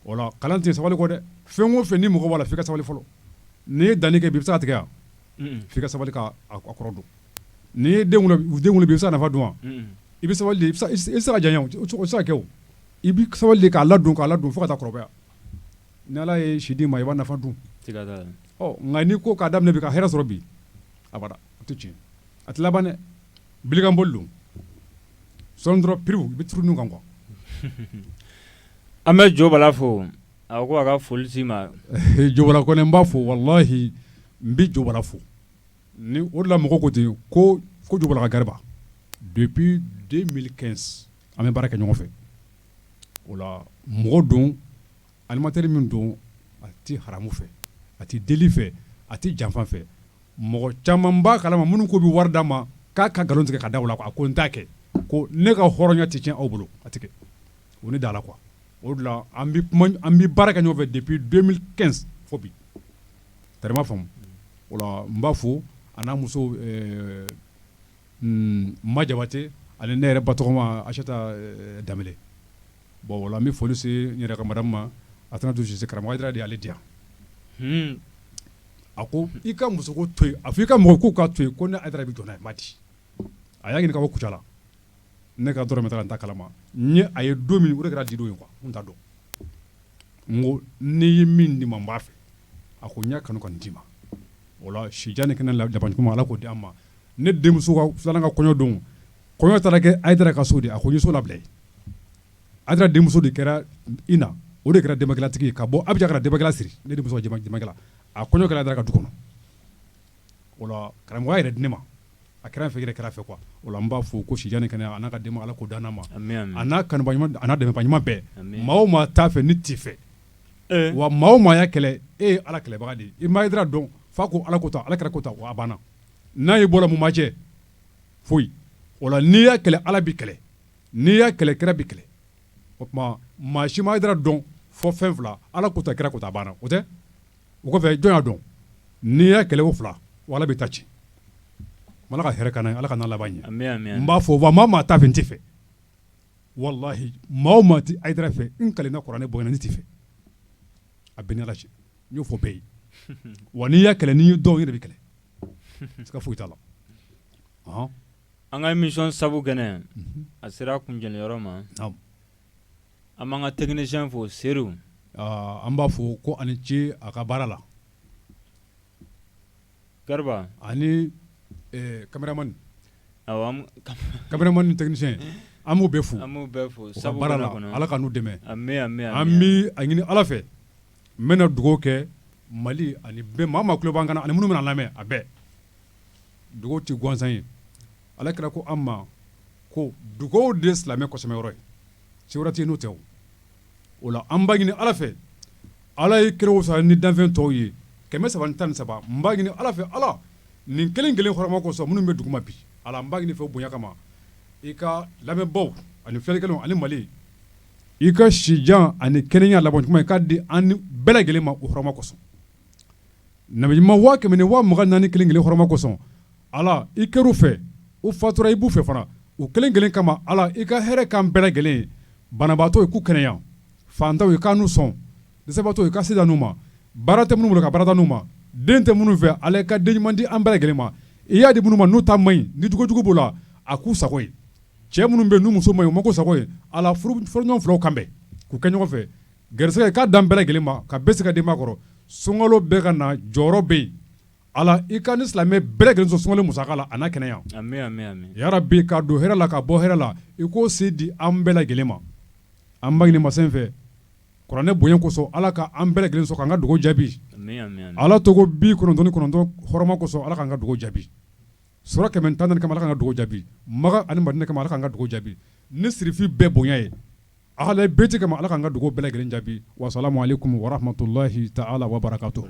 Speaker 2: o la kalan tɛ sabali kɔ dɛ fɛn o fɛn ni mɔgɔ b'a la f'i ka sabali fɔlɔ n'i ye danni kɛ bi i bɛ se k'a tigɛ yan f'i ka sabali k'a kɔrɔ don n'i ye den wolo bi i bɛ se k'a nafa dun wa i bɛ sabali sara jan sakɛ i bɛ sabali k'a ladon k'a ladon fo ka taa kɔrɔbaya ni ala ye si d'i ma i b'a nafa dun nka n'i ko k'a daminɛ bi ka hɛrɛ sɔrɔ bi abada a tɛ tiɲɛ a tɛ laban dɛ bilikanboli don sɔɔni dɔrɔn pere i bɛ turu nun kan
Speaker 1: quoi an bɛ Jo Bala fo A ko a ka foli s'i ma Jo Bala kɔni
Speaker 2: n b'a fo walahi n bɛ Jo Bala fo ni o de la mɔgɔw ko ten ko ko Jo Bala ka gariba depuis 2015 an bɛ baara kɛ ɲɔgɔn fɛ o la mɔgɔ don animateur min don a tɛ haramu fɛ a tɛ deli fɛ a tɛ janfa fɛ mɔgɔ caman b'a kalama minnu k'u bɛ wari d'a ma k'a ka nkalon tigɛ ka da u la quoi a ko n t'a kɛ ko ne ka hɔrɔnya tɛ tiɲɛ aw bolo a tɛ kɛ o ye ne da la quoi o de la an bɛ baara kɛ ɲɔgɔn fɛ depuis 2015 fo bi tari ma faamu o la n b'a fo a n'a muso ma jabatɛ ani ne yɛrɛ ba tɔgɔma aseta danbele bon o la an bɛ foli se n yɛrɛ ka madamu ma asanatu sise karamɔgɔ hayidara de y'ale di yan a ko i ka muso ko to yen a fɔ i ka mɔgɔw k'u ka to yen ko ne hayidara bɛ jɔ n'a ye ma di a y'a ɲininka ka bɔ kucala ne ka dɔrɔmɛ t'a la n t'a kalama n y'a ye don min o kɛra di don ye quoi n t'a dɔn n ko ne ye min di ma n b'a fɛ a ko n y'a kanu ka nin d'i ma o la sijan ni kɛnɛya labankoɲuman ala k'o d'an ma ne denmuso filanan ka kɔɲɔdon kɔɲɔ taara kɛ hayidara ka so de a ko n ye so labila hayidara denmuso de kɛra ina o de kɛra denbajalatigi ye ka bɔ abijan ka na denbajala siri ne denmuso ka denbajala a kɔɲɔ kɛra hayidara ka du kɔnɔ o la karamɔgɔya yɛrɛ di ne ma a kɛra n fɛ i yɛrɛ kɛra n fɛ quoi o la n b'a fo ko si jan ni kɛnɛya a n'a ka denbaya Ala k'o d'an n'a ma ami ami a n'a kanubaa ɲuman a n'a dɛmɛbaa ɲuman bɛɛ ami maa o maa t'a fɛ n t'i fɛ ee wa maa o maa y'a kɛlɛ e ye Ala kɛlɛbaga de ye i ma Haidara dɔn f'a ko Ala ko tan Ala kira ko tan wa a banna n'a y'i bɔra mun b'a cɛ foyi o la n'i y'a kɛlɛ Ala b'i kɛlɛ n'i y'a kɛlɛ kira b'i kɛlɛ o tumaa maa si ma Haidara dɔn fo fɛn 2 Ala ko tan kira ko tan a banna o tɛ o kɔfɛ jɔn y'a dɔn n'i y'a kɛlɛ o fila wa ala b'i ta ci ala ka hɛrɛ ka ala k'an n'a laban ɲɛ n b'a fɔ wa maa o maa t'a fɛ n t'i fɛ walahi maa o maa tɛ Haidara fɛ n kalenna kuranɛ bonya na ne t'i fɛ a bɛ n ni ala cɛ n y'o fɔ bɛɛ ye wa n'i y'a kɛlɛ n'i dɔw yɛrɛ b'i kɛlɛ siga foyi t'a la
Speaker 1: an ka émission sabu kɛnɛ a sera kuncɛliyɔrɔ ma An b'an ka technicien fo
Speaker 2: Seri an b'a fɔ ko a ni ce a ka baara
Speaker 1: la Garba ani
Speaker 2: cameraman cameraman ni technicien an b'u bɛɛ fo an b'u fo sabu baara la kɔnɔ ala k'an n'u dɛmɛ an bɛ an bɛ a ɲini ala fɛ n bɛna dugawu kɛ mali ani bɛɛ maa tulo b'an kan ani minnu bɛna lamɛn a bɛɛ dugawu tɛ gansan ye ala kira ko an ma ko dugawu de ye silamɛ kɔsɛmɛ yɔrɔ ye se wɛrɛ tɛ yen n'o tɛ o la an b'a ɲini ala fɛ ala ye kira wusaya ni danfɛn tɔw ye kɛmɛ saba tan ni saba n b'a ɲini ala fɛ ala nin kelen kelen hɔrɔma kosɔn minnu bɛ duguma bi ala n b'a ɲini fɛ bonya kama i ka lamɛnbaw ani filɛlikɛlaw ani mali i ka sijan ani kɛnɛya laban ɲuman i k'a di an bɛɛ lajɛlen ma o hɔrɔma kosɔn nabi ɲuman waa kɛmɛ ni waa mugan naani kelen kelen hɔrɔma kosɔn ala i kɛr'u fɛ u fatura i b'u fɛ fana u kelen kelen kama ala i ka hɛrɛ k'an bɛɛ lajɛlen ye banabaatɔ ye k'u kɛnɛya fantanw ye k'an n'u sɔn dɛsɛbaatɔ ye ka se d'an n'u ma baara tɛ minnu bolo ka baara d'an n'u ma den tɛ minnu fɛ ala ka den ɲuman di an bɛɛ lajɛlen ma i y'a di minnu ma n'u ta man ɲi ni jugujugu b'o la a k'u sago ye cɛ minnu bɛ n'u muso man ɲi u ma k'u sago ye ala furuɲɔgɔn filaw kan bɛn k'u kɛ ɲɔgɔn fɛ Gɛrɛsɛgɛ i k'a d'an bɛɛ lajɛlen ma ka bɛɛ se ka denba kɔrɔ sunkalo bɛ ka na jɔrɔ bɛ yen ala i k'an ni silamɛ bɛɛ lajɛlen sɔn sunkalo musaka la a n'a kɛnɛya yarabi ka don hɛrɛ la ka bɔ hɛrɛ la i k'o se di an bɛɛ lajɛlen ma an b'a ɲini masa in fɛ kuranɛ bonya kosɔn ala ka an bɛɛ lajɛlen sɔn ka an ka dugawu jaabi ala tɔgɔ bi kɔnɔntɔn kɔnɔntɔn hɔrɔma kosɔn ala ka an ka dugawu jaabi sura kɛmɛ tan ni naani kama a k'an ka dugawu jaabi maka ani madina kama ala k'an ka dugawu jaabi ni sirifi bɛɛ bonya ye ahla bayti kama ala k'an ka dugawu bɛɛ lajɛlen jaabi wa salamu alaikum wa rahmatullahi ta'ala wa barakatuhu